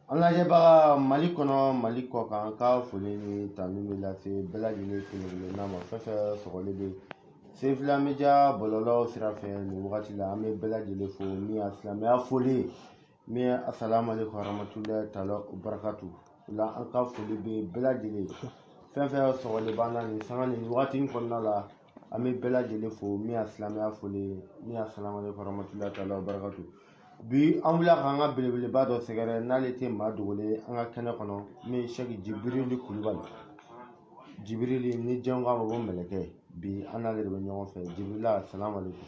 An lajɛbaga Mali kɔnɔ Mali kɔkan an ka foli ni tanu bɛ lase bɛɛ lajɛlen kelen-kelenna ma fɛn fɛn sɔgɔlen bɛ Sefila Media bɔlɔlɔw sira fɛ nin wagati la an bɛ bɛɛ lajɛlen fo min ye silamɛya foli ye Min ye assalamu alaikum warahmatullahi ta'ala wabarakatu o la an ka foli bɛ bɛɛ lajɛlen fɛn fɛn sɔgɔlen b'an na nin sanga nin wagati in kɔnɔna la an bɛ bɛɛ lajɛlen fo min ye silamɛya foli ye min ye assalamu alaikum warahmatullahi ta'ala wabarakatu bi an wulila k'an ka belebeleba dɔ sɛgɛrɛ n'ale tɛ maa dogolen an ka kɛnɛ kɔnɔ min ye sɛki jibirili kulubali jibirili ni jɛn k'a ma ko mɛlɛkɛ bi an n'ale de bɛ ɲɔgɔn fɛ jibirila assalamu alaikum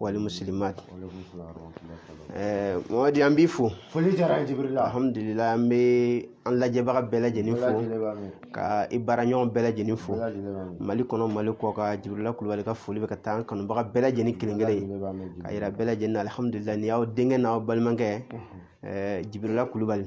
wal muslimat ɛɛ mamadi an b'i fo foli diyara an ye jibirila alhamdulilayi an bɛ an lajɛbaga bɛɛ lajɛlen fo ka i baaraɲɔgɔn bɛɛ lajɛlen fo mali kɔnɔ mali kɔkan jibirila kulubali ka foli bɛ ka taa an kanubaga bɛɛ lajɛlen kelen kelen k'a yira bɛɛ lajɛlen na alhamdulilayi nin y'aw denkɛ n'aw balimakɛ ɛɛ jibirila kulubali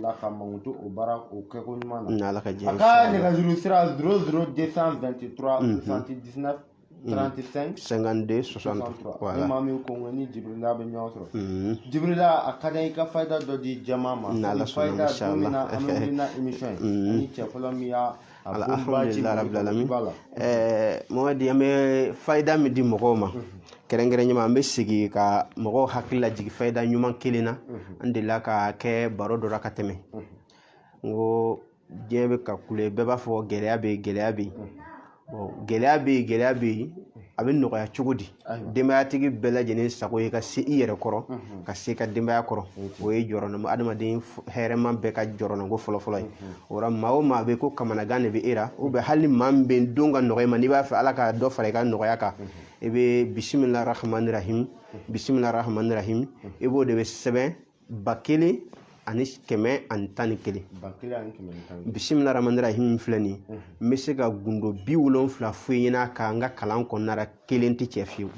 la ka mankutu o baara o kɛko ɲuman na n'ala ka jɛ a ka nɛgɛjuru sira 00223 79 35 52 63 voilà ni maa min ko k'i ni jibirila bɛ ɲɔgɔn sɔrɔ mhm. jibirila a ka di i ka fayida dɔ di jama ma n'ala sɔnna inchallah an bɛ wuli na émission ye mhm. ni cɛ fɔlɔ min y'a alhamdulilayibilalamina mɔgɔden an bɛ fada min di mɔgɔw ma kɛrɛnkɛrɛn ɲumanuma an bɛ sigi ka mɔgɔw hakili la jigin fada ɲuman kelen na an delila ka kɛ baro dɔ ka tɛmɛ n ko diɲɛ bɛ ka kule bɛɛ b'a fɔ gɛlɛya bɛ gɛlɛya bɛ gɛlɛya bɛ gɛlɛya bɛ yen a bɛ nɔgɔya cogo di denbayatigi bɛɛ lajɛlen sago ye ka se i yɛrɛ kɔrɔ ka se ka denbaya kɔrɔ o ye jɔrɔnama adamaden hɛrɛma bɛɛ ka jɔrɔnako fɔlɔfɔlɔ ye o la maa o maa bɛ ko kamanagan de bɛ i la ou bien hali maa min b'a dɔn a ka nɔgɔ i ma n'i b'a fɛ ala ka dɔ fara i ka nɔgɔya kan i bɛ bisimila rahmani rahim bisimila rahmani rahim i b'o de bɛ sɛbɛn ba kelen ani kɛmɛ ani tan ni kelen ba kelen ani kɛmɛ ani tan ni kelen bisimila rahmani rahim filɛ nin ye n bɛ se ka gundo bi wolonfila fɔ i ɲɛna a kan n ka kalan kɔnɔna la kelen tɛ cɛ fiyewu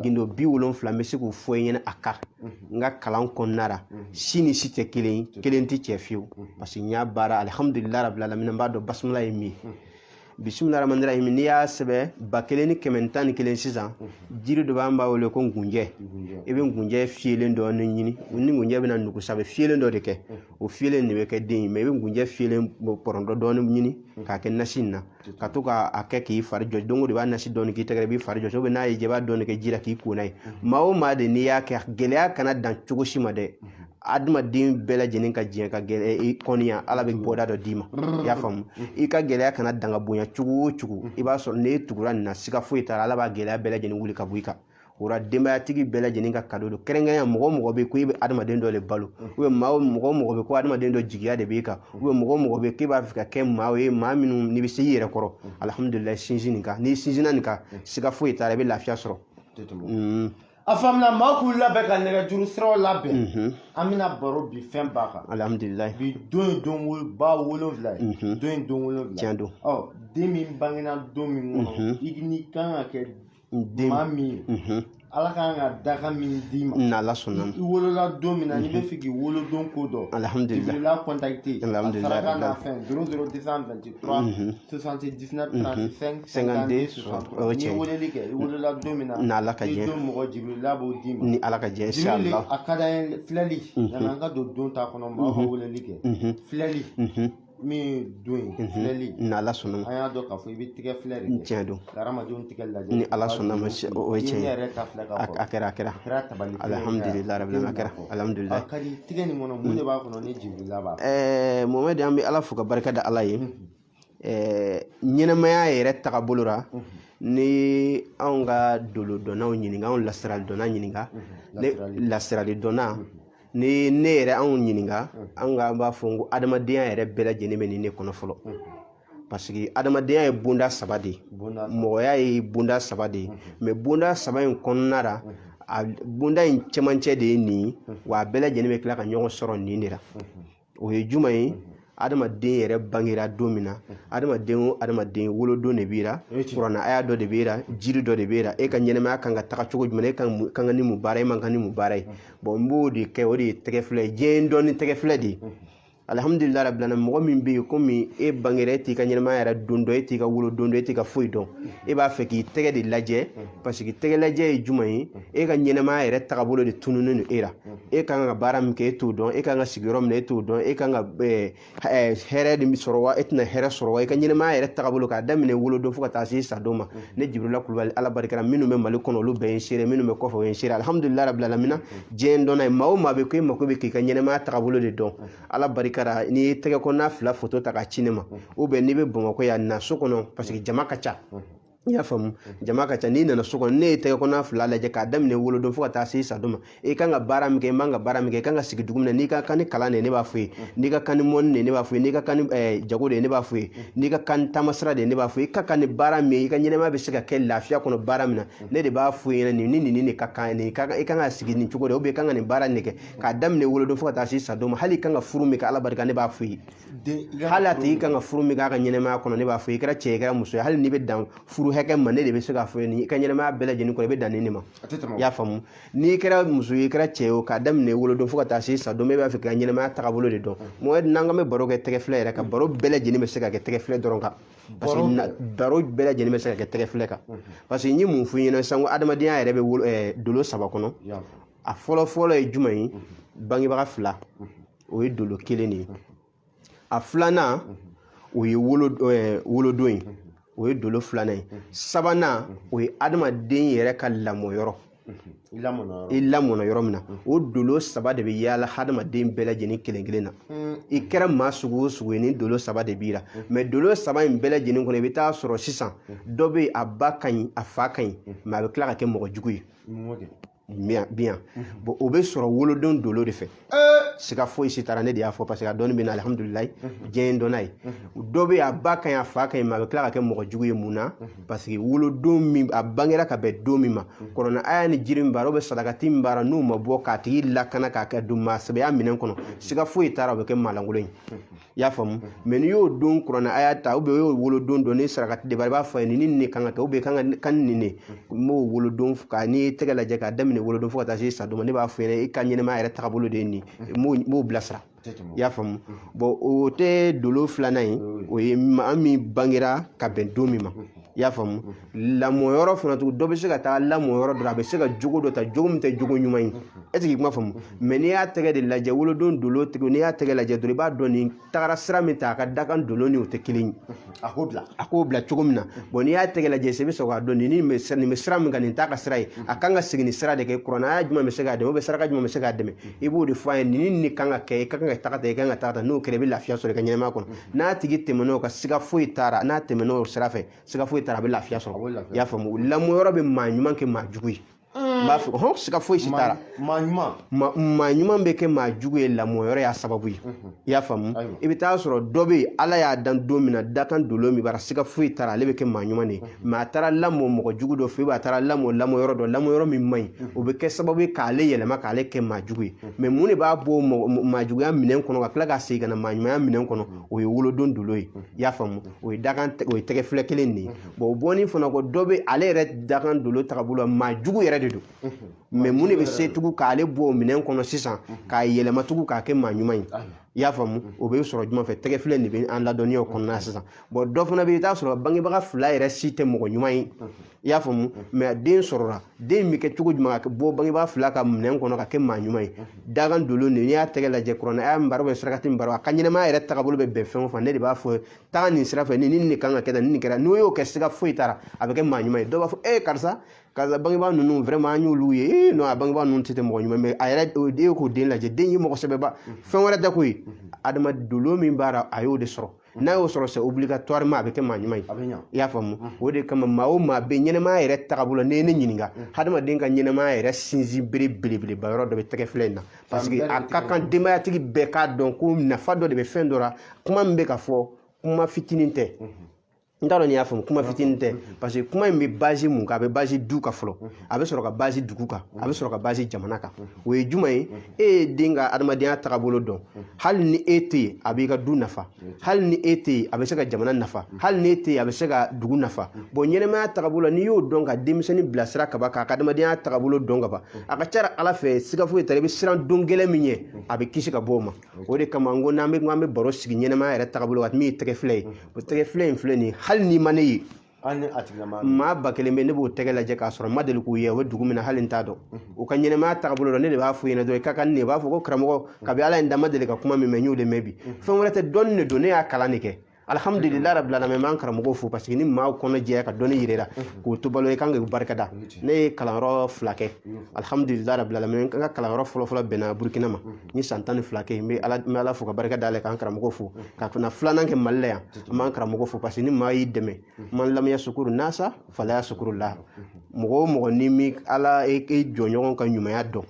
gundo bi wolonfila n bɛ se k'o fɔ i ɲɛna a kan n ka kalan kɔnɔna la si ni si tɛ kelen ye kelen tɛ cɛ fiyewu parce que n y'a baara alihamudulila rabil alamina n b'a dɔn basmala ye min ye bisimila rahmani rahim n'i y'a sɛbɛn ba kelen ni kɛmɛ tan ni kelen sisan jiri dɔ b'an b'a wele ko ngunjɛ i bɛ ngunjɛ fiyelen dɔɔni ɲini ni ngunjɛ bɛna nugu sa a bɛ fiyelen dɔ de kɛ o fiyelen de bɛ kɛ den ye mais i bɛ ngunjɛ fiyelen pɔrɔntɔ dɔɔni ɲini k'a kɛ nasi in na ka to k'a kɛ k'i fari jɔ don o don i b'a nasi dɔɔni k'i tɛgɛ i b'i fari jɔ n'a y'i diya i b'a dɔɔni kɛ ji la k'i ko n'a ye maa o maa de n'i y'a kɛ gɛlɛya kana dan cogo si ma dɛ adamaden bɛɛ lajɛlen ka diɲɛ ka gɛlɛya i kɔniya ala bɛ bɔda dɔ d'i ma i y'a faamu i ka gɛlɛya kana dan ka bonya cogo o cogo i b'a sɔrɔ n'e tugura nin na siga foyi t'a la ala b'a gɛlɛya bɛɛ lajɛlen wuli ka bɔ i kan o la denbayatigi bɛɛ lajɛlen ka kado don kɛrɛnkɛrɛnya mɔgɔ mɔgɔ bɛ ko e bɛ adamaden dɔ de balo ubiyɛn maa o mɔgɔ mɔgɔ bɛ ko adamaden dɔ jigiya de b'e kan ubiyɛn mɔgɔ mɔgɔ bɛ k'e b'a fɛ ka kɛ maa ye maa minnu n'i bɛ se i yɛrɛ kɔrɔ alihamudulilayi sinsin nin kan n'i sinsinna nin kan siga foyi t'a la i bɛ lafiya sɔrɔ a faamuna maa k'u labɛn ka nɛgɛjuru siraw labɛn mhm. an bɛna baro bi fɛn ba kan alhamdulilayi bi don ye don ba wolonwula ye mhm. don ye don wolonwula tiɲɛ don ɔ den min bangena don min kɔnɔ mhm. i ni kan ka kɛ maa min ye ala kan ka dakan min d'i ma n'ala sɔnna i wolola don min na n'i b'a fɛ k'i wolodon ko dɔn jibirila kɔntakite alhamdulilayi saraka n'a fɛn zéro zéro deux cent vingt 3 mhm. 79 35 52 63 n'i weleli kɛ i wolola don min na ni ala ka jɛ don mɔgɔ jibirila b'o d'i ma ni ala ka jɛ jibirili a ka d'an ye filɛli mhm. yanni an ka don don ta kɔnɔ maaw ka mhm. weleli kɛ filɛli min don ye filɛli ni ala sɔnna an y'a dɔn k'a fɔ i bɛ tigɛ filɛ de kɛ tiɲɛ don hadamadenw tigɛ lajɛ ni ala sɔnna ma o ye tiɲɛ ye a kɛra a kɛra alihamudulila rabili a kɛra alihamudulila tigɛ nin kɔnɔ mun de b'a kɔnɔ ni jibirila b'a ɛɛ mɔmɛdi an bɛ ala fo ka barika da ala ye ɛɛ ɲɛnamaya yɛrɛ tagabolo la ni anw ka dolo dɔnnaw ɲininka anw lasirali dɔnna ɲininka lasirali dɔnna ni ne yɛrɛ anw ɲininka an ka an b'a fɔ n ko adamadenya yɛrɛ bɛɛ lajɛlen bɛ nin ne kɔnɔ fɔlɔ parce que adamadenya ye bonda saba de ye mɔgɔya ye bonda saba de ye mais bonda saba in kɔnɔna la a bonda in cɛmancɛ de ye nin ye wa a bɛɛ lajɛlen bɛ tila ka ɲɔgɔn sɔrɔ nin de la o ye juma ye adamaden yɛrɛ bangera don min na adamaden o adamaden wolodon de b'i ra kurana aya dɔ de b'i ra jiri dɔ de b'i ra e ka ɲɛnamaya kan ka taga cogo jumɛn e kan ka ni mun baara e man kan ni mun baara ye bon n b'o de kɛ o de ye tɛgɛ filɛ ye diɲɛ ye n dɔn ni tɛgɛ filɛ de ye alihamudulila rabila lamina mɔgɔ min bɛ yen komi e bangera e t'i ka ɲɛnamaya yɛrɛ don dɔn e t'i ka wolodon dɔn e t'i ka foyi dɔn e b'a fɛ k'i tɛgɛ de lajɛ parce que tɛgɛ lajɛ ye jumɛn ye e ka ɲɛnamaya yɛrɛ tagabolo de tununnen don e la e ka kan ka baara min kɛ e t'o dɔn e ka kan ka sigi yɔrɔ min na e t'o dɔn e ka kan ka hɛrɛ de sɔrɔ wa e tɛna hɛrɛ sɔrɔ wa i ka ɲɛnamaya yɛrɛ taabolo k'a daminɛ wolodon fo ka taa se sa don ma ne jibirila kulubali ala barika ra minnu bɛ mali kɔnɔ olu bɛɛ ye n seere minnu bɛ kɔfɛ o ye n seere alihamudulila rabila lamina diɲɛ n dɔn n'a ye maa o maa bɛ ko e mako bɛ k'i ka ɲɛnamaya taabolo de dɔn ala barika ra n'i ye tɛgɛ kɔnɔna fila foto ta k'a ci ne ma ubiyɛn n'i bɛ bamakɔ yan na so kɔnɔ paseke jama ka ca i y'a faamu jama ka ca n'i nana so kɔnɔ ne ye tɛgɛ kɔnɔna fila lajɛ k'a daminɛ wolodon fo ka taa se sadon ma i kan ka baara min kɛ i man ka baara min kɛ i kan ka sigi dugu min na n'i ka kan ni kalan de ye ne b'a fɔ ye n'i ka kan ni mɔnni de ye ne b'a fɔ ye n'i ka kan ni eh, jago de ye ne b'a fɔ ye n'i ka kan ni taamasira de ye ne b'a fɔ ye i ka kan ni baara min ye i ka ɲɛnɛmaya bɛ se ka kɛ lafiya kɔnɔ baara min na ne de b'a fɔ i ɲɛna nin ni nin ni de ka kan nin i ka kan i kan ka sigi nin cogo de la ou bien i kan ka nin baara in de kɛ k'a daminɛ wolodon fo ka taa se sadon ma hali i kan ka furu min kɛ ala barika ne b'a fɔ i ye hali a tigi kan ka furu min k'a ka ɲɛnɛmaya kɔnɔ ne b'a fɔ i kɛra cɛ i kɛra muso ye hali n'i bɛ dan furu hakɛ ma ne de bɛ se k'a fɔ i ka ɲɛnɛmaya bɛɛ lajɛlen kɔnɔ i bɛ dan nin de ma i y'a faamu n'i kɛra muso ye i kɛra cɛ ye o k'a daminɛ wolodon fo ka taa se sa don bɛɛ b'a fɛ k'i ka ɲɛnɛmaya tagabolo de dɔn mɔgɔ n'an k'an bɛ baro kɛ tɛgɛ filɛ yɛrɛ kan baro bɛɛ lajɛlen bɛ se ka kɛ tɛgɛ filɛ dɔrɔn kan parce que baro bɛɛ lajɛlen bɛ se ka kɛ tɛgɛ filɛ kan parce que n ye mun f'i ɲɛna sisan ko adamadenya yɛrɛ bɛ dolo saba kɔnɔ a fɔlɔ fɔlɔ ye jumɛn ye bangebaga fila o ye dolo kelen de ye a filanan o ye wolo ɛɛ wolodon ye o ye dolo filanan ye sabanan o ye adamaden yɛrɛ ka lamɔ yɔrɔ i lamɔna yɔrɔ i lamɔna yɔrɔ min na o dolo saba de bɛ yaala hadamaden bɛɛ lajɛlen kelen kelen na i kɛra maa sugu o sugu ye nin dolo saba de b'i la mais dolo saba in bɛɛ lajɛlen kɔnɔ i bɛ taa sɔrɔ sisan dɔ bɛ yen a ba ka ɲi a fa ka ɲi mais a bɛ tila ka kɛ mɔgɔ jugu ye mɔgɔ de bien bien mhm. bon o bɛ sɔrɔ wolodon dolo de fɛ siga foyi si t'a la ne de y'a fɔ parce que a dɔnni bɛ n na alihamudulilayi mhm. diɲɛ ye dɔnna ye mhm. dɔ bɛ a ba ka ɲi a fa ka ɲi mais a bɛ tila ka kɛ mɔgɔ jugu ye mun na parce que wolodon min a bangera ka bɛn don min ma kuranɛ aya ni jiri min b'a la sarakati min b'a la n'o ma bɔ k'a tigi lakana k'a kɛ don maa sɛbɛya minɛn kɔnɔ siga foyi t'a la o bɛ kɛ maalankolon ye i y'a faamu mais n'i y'o don kuranɛ aya ta ou bien i y'o wolodon dɔn ni sarakati de b'a la i b'a fɔ a ye nin ni nin kan ka kɛ ou bien kan ka kan nin ne n b'o wolodon ka n'i ye tɛgɛ lajɛ k'a daminɛ wolodon fo ka taa se sa don ma ne b'a f'i ɲɛna i ka ɲɛnɛmaya yɛrɛ tagabolo de ye nin ye n b'o bilasira i y'a faamu bon o tɛ dolo filanan ye o ye maa min bangera ka bɛn don min ma i y'a faamu lamɔ yɔrɔ fana tugun dɔ bɛ se ka taa lamɔ yɔrɔ dɔ la a bɛ se ka jogo dɔ ta jogo min tɛ jogo ɲuman ye est ce que i kuma faamu mais n'i y'a tɛgɛ de lajɛ wolodon dolo tigi n'i y'a tɛgɛ lajɛ dɔrɔn i b'a dɔn nin tagara sira min ta a ka dakan dolo ni o tɛ kelen ye a k'o bila a k'o bila cogo min na bon n'i y'a tɛgɛ lajɛ i bɛ sɔrɔ k'a dɔn nin nin bɛ sira min kan nin t'a ka sira ye a kan ka segin nin sira de kan kuranɛ aya jumɛn bɛ se k'a dɛmɛ ou bien saraka jumɛn bɛ se k'a dɛmɛ i b'o de fɔ a ye nin nin kan ka kɛ i ka kan ka taga tan i ka kan ka taga tan n'o kɛra i bɛ lafiya sɔrɔ i ka ɲɛnɛmaya kɔnɔ n'a tigi tɛmɛn'o kan siga foyi t'a la n'a tɛmɛn'o sira fɛ siga foyi t'a la a bɛ lafiya sɔrɔ i y'a faamu lamɔ yɔrɔ bɛ maa ɲuman kɛ maa jugu ye n b'a fɔ hɔn siga foyi si t'a la maa ɲuman maa ɲuman bɛ kɛ maa jugu ye lamɔ yɔrɔ y'a sababu ye i y'a faamu i bɛ taa sɔrɔ dɔ bɛ yen ala y'a dan don min na dakan dolo min b'a la siga foyi t'a la ale bɛ kɛ maa ɲuman de ye mais a taara lamɔ mɔgɔ jugu dɔ fɛ yen a taara lamɔ lamɔ yɔrɔ dɔ lamɔ yɔrɔ min man ɲi o bɛ kɛ sababu ye k'ale yɛlɛma k'ale kɛ maa jugu ye mais mun de b'a bɔ maajuguya minɛn kɔnɔ ka tila ka segin ka na maaɲumanya minɛn kɔnɔ o ye wolodon dolo ye i y'a faamu o ye dakan o ye tɛgɛ filɛ kelen de ye bon o bɔni fana kɔ dɔ bɛ ale yɛrɛ dakan dolo tagabolo la maa jugu yɛrɛ de don mais mun de bɛ se tugu k'ale bɔ o minɛn kɔnɔ sisan k'a yɛlɛma tugu k'a kɛ maa ɲuman ye i y'a faamu o bɛ sɔrɔ jumɛn fɛ tɛgɛ filɛ de bɛ an ladɔnniya o kɔnɔna sisan bon dɔ fana bɛ yen i t'a sɔrɔ bangebaga fila yɛrɛ si tɛ mɔgɔ ɲuman ye i y'a faamu mais den sɔrɔla den bɛ kɛ cogo jumɛn ka bɔ bangebaga fila ka minɛn kɔnɔ ka kɛ maa ɲuman ye dakan dolo de n'i y'a tɛgɛ lajɛ kuranɛ aya min b'a rɔ ou bien sarakati min b'a rɔ a ka ɲɛnɛmaya yɛrɛ tagabolo bɛ bɛn fɛn o fɛn ne de b'a fɔ taa nin sira fɛ ni nin de kan ka kɛ tan nin de kɛra n'o y'o kɛ siga foyi t'a la a bɛ kɛ maa ɲuman ye dɔw b'a fɔ ee karisa karisa bangebaa ninnu vraiment an y'olu ye ee non a bangebaa ninnu tɛ tɛ mɔgɔ ɲuman mais a yɛrɛ e ye k'o den lajɛ den ye mɔgɔ sɛbɛba fɛn wɛrɛ tɛ ko ye a dakan dolo min b'a la a y'o de sɔrɔ n'a y'o sɔrɔ c'est obligatoirement a bɛ kɛ maa ɲuman ye i y'a faamu o de kama maa o maa bɛ ɲɛnɛmaya yɛrɛ tagabolo n'i ye ne ɲininka hadamaden ka ɲɛnɛmaya yɛrɛ sinsin bere belebeleba yɔrɔ dɔ bɛ tɛgɛ filɛ in na parce que a ka kan denbayatigi bɛɛ k'a dɔn ko nafa dɔ de bɛ fɛn dɔ la kuma min bɛ ka fɔ kuma fitinin tɛ n t'a dɔn n'i y'a faamu kuma fitinin tɛ parce que kuma in bɛ baser mun kan a bɛ baser du kan fɔlɔ a bɛ sɔrɔ ka baser dugu kan a bɛ sɔrɔ ka baser jamana kan o ye jumɛn ye e ye den ka adamadenya tagabolo dɔn hali ni e tɛ yen a b'i ka du nafa hali ni e tɛ yen a bɛ se ka jamana nafa hali ni e tɛ yen a bɛ se ka dugu nafa bon ɲɛnɛmaya tagabolo n'i y'o dɔn ka denmisɛnnin bilasira kaban k'a ka adamadenya tagabolo dɔn kaban a ka ca ala fɛ siga foyi tɛ i bɛ siran don gɛlɛn min ye a bɛ kisi ka bɔ o ma o de kama n ko n'an bɛ an bɛ baro sigi ɲɛnɛmaya yɛrɛ tagabolo kan min ye tɛgɛ filɛ ye o tɛgɛ filɛ in filɛ nin ye hali n'i ma ne ye maa ba kelen bɛ ne b'o tɛgɛ lajɛ k'a sɔrɔ n ma deli k'u ye o bɛ dugu min na hali n t'a dɔn u ka ɲɛnɛmaya tagabolo la ne de b'a f'u ɲɛna dɔrɔn i ka kan ne b'a fɔ ko karamɔgɔ kabi ala ye n da n ma deli ka kuma min mɛn n y'o de mɛn bi fɛn wɛrɛ tɛ dɔnni de don ne y'a kalan de kɛ alhamdulillah rabbil alamin n b'an karamɔgɔ fo parce que ni maaw kɔnɔ jɛya ka dɔnni yira i la k'o to balo ye i kan ka barika da ne ye kalanyɔrɔ fila kɛ alhamdulillah rabbil alamin n ka kalanyɔrɔ fɔlɔfɔlɔ bɛnna burukina ma n ye san tan ni fila kɛ n bɛ ala n bɛ ala fo ka barika da a ye k'an karamɔgɔ fo ka fana filanan kɛ mali la yan n b'an karamɔgɔ fo parce que ni maa y'i dɛmɛ man lam yasukuru nasa fala yasukurullah mɔgɔ o mɔgɔ n'i m'i ala jɔnɲɔgɔn ka ɲumanya dɔn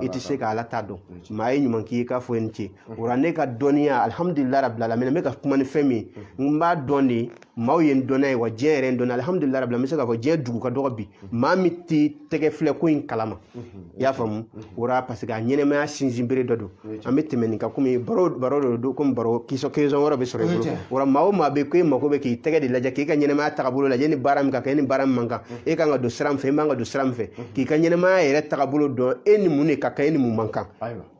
i tɛ se ka ala ta dɔn maa ye ɲuman k'i ye k'a fɔ i ni ce o la ne ka dɔnniya alhamdulillah rabbil alamin n bɛ ka kuma ni fɛn min n b'a dɔn de maaw ye n dɔn n'a ye wa diɲɛ yɛrɛ n dɔn n'a alhamdulillah rabbil alamin n bɛ se k'a fɔ diɲɛ dugu ka dɔgɔ bi maa min tɛ tɛgɛ filɛ ko in kalama i y'a faamu o la parce que a ɲɛnɛmaya sinsin bere dɔ don an bɛ tɛmɛ nin kan komi baro baro dɔ don komi baro question question wɛrɛ bɛ sɔrɔ i bolo o la maa o maa bɛ ko e mako bɛ k'i tɛgɛ de lajɛ k'i ka ɲɛnɛmaya tagabolo lajɛ ni baara min ka kɛ ni baara min man kan e kan ka don sira min fɛ e man ka don sira min fɛ k'i ka ɲɛnɛmaya yɛrɛ tagabolo dɔn e ni mun de ka kan e ni mun man kan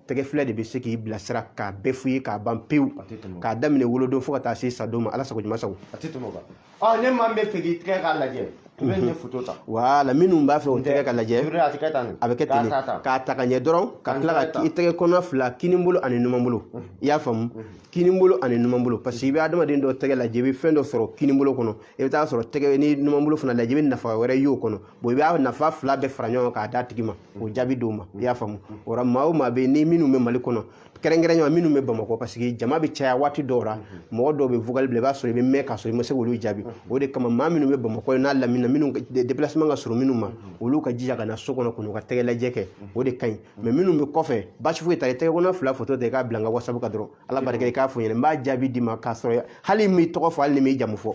tɛgɛfilɛ de bɛ se k'i bilasira k'a bɛɛ f'i ye k'a ban pewu k'a daminɛ wolodon fo ka taa se sadon ma ala sago ɲuman sago a tɛ tɛmɛ o kan ɔ ni maa min b'a fɛ k'i tɛgɛ ka lajɛ i bɛ nin foto ta wala minnu b'a fɛ u tɛgɛ ka lajɛ a tɛ kɛ tan a bɛ kɛ ten k'a ta ka ɲɛ dɔrɔn ka tila ka i tɛgɛ kɔnɔ fila kinin bolo ani numan bolo i y'a faamu kinin bolo ani numan bolo parce que i bɛ adamaden dɔ tɛgɛ lajɛ i bɛ fɛn dɔ sɔrɔ kinin bolo kɔnɔ i bɛ taa sɔrɔ tɛgɛ ni numan bolo fana lajɛ i bɛ nafa wɛrɛ y'o kɔnɔ bon i b'a nafa fila bɛɛ fara ɲɔgɔn kan k'a d'a tigi ma k'o jaabi d'o ma i y'a faamu o la maa o maa bɛ yen ni minnu bɛ mali kɔnɔ kɛrɛnkɛrɛnya minnu bɛ bamakɔ parce que jama bɛ caya waati dɔw la mɔgɔ dɔw bɛ vocal bila i b'a sɔrɔ i bɛ mɛn k'a sɔrɔ i ma se k'olu jaabi o de kama maa minnu bɛ bamakɔ n'a lamini minnu déplacement ka surun minnu ma olu ka jija ka na so kɔnɔ k'u ka tɛgɛ lajɛ kɛ o de ka ɲi mais minnu bɛ kɔfɛ basi foyi t'a la i tɛgɛ kɔnɔ fila foto ta i k'a bila n ka whatsapp kan dɔrɔn ala barika i k'a fɔ n ɲɛna n b'a jaabi d'i ma k'a sɔrɔ hali n m'i tɔgɔ fɔ hali n m'i jamu fɔ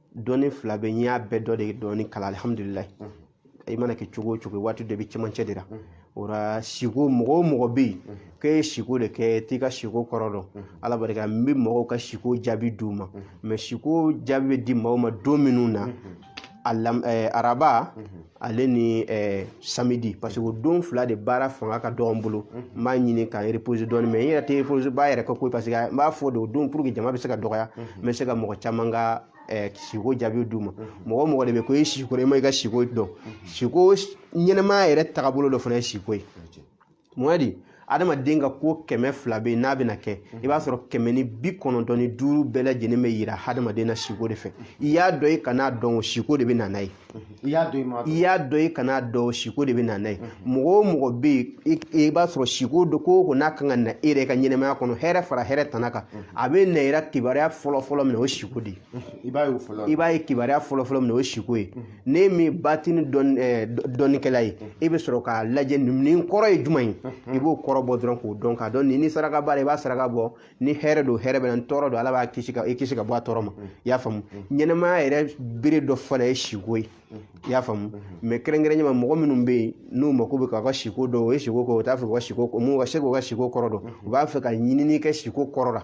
dɔnni fila bɛɛ n y'a bɛɛ dɔ de dɔɔni kalan alihamudulila i mana kɛ cogo o cogo waati dɔ bɛ cɛmancɛ de la o la siko mɔgɔ o mɔgɔ bɛ yen k'e ye siko de kɛ t'i ka siko kɔrɔ dɔn ala barika la n bɛ mɔgɔw ka siko jaabi d'u ma mais siko jaabi bɛ di mɔgɔw ma don minnu na alam ɛɛ araba ale ni eh, samedi parce que o don fila de baara fanga ka dɔgɔ n bolo n mhm. b'a ɲini ka reposer dɔɔni mais n yɛrɛ tɛ repos ba yɛrɛ kɛ koyi parce que n b'a fɔ de o don pour que jama bɛ se ka dɔgɔya mhm. n bɛ se ka mɔgɔ caman ka eh, siko jaabi d'u ma mhm. mɔgɔ o mɔgɔ de bɛ ko i siko i ma i ka siko dɔn siko ɲɛnɛmaya yɛrɛ tagabolo dɔ fana ye siko ye mun di adamaden ka ko kɛmɛ fila bɛ yen n'a bɛna kɛ i b'a sɔrɔ kɛmɛ ni bi kɔnɔntɔn ni duuru bɛɛ lajɛlen bɛ yira hadamaden na siko de fɛ i y'a dɔn i kan'a dɔn o siko de bɛ na n'a ye i y'a dɔn i ma i y'a dɔn i kan'a dɔn o siko de bɛ na n'a ye mɔgɔ o mɔgɔ bɛ yen i i b'a sɔrɔ siko dɔ ko o ko n'a kan ka na e yɛrɛ ka ɲɛnɛmaya kɔnɔ hɛrɛ fara hɛrɛ tana kan a bɛna yira kibaruya fɔlɔ fɔlɔ min na o ye siko de ye i b'a ye o fɔlɔ i b'a ye kibaruya fɔlɔ fɔlɔ min na o ye siko ye ne min batini dɔnnikɛla ye e bɛ sɔrɔ k'a lajɛ nin kɔrɔ ye jumɛn ye i b'o kɔrɔ bɔ dɔrɔn k'o dɔn k'a dɔn nin ni saraka b'a la i b'a saraka bɔ ni hɛrɛ don hɛrɛ bɛ na ni tɔɔrɔ don ala b'a kisi ka i kisi ka bɔ a tɔɔrɔ ma i y'a faamu ɲɛnɛmaya yɛrɛ bere dɔ fana ye siko ye i y'a faamu mais kɛrɛnkɛrɛnya ma mɔgɔ minnu bɛ yen n'u mako bɛ k'u ka siko dɔn u ye siko kɛ u t'a fɛ u ka siko mun ka se k'u ka siko kɔrɔ dɔn u b'a fɛ ka ɲinini kɛ siko kɔrɔ la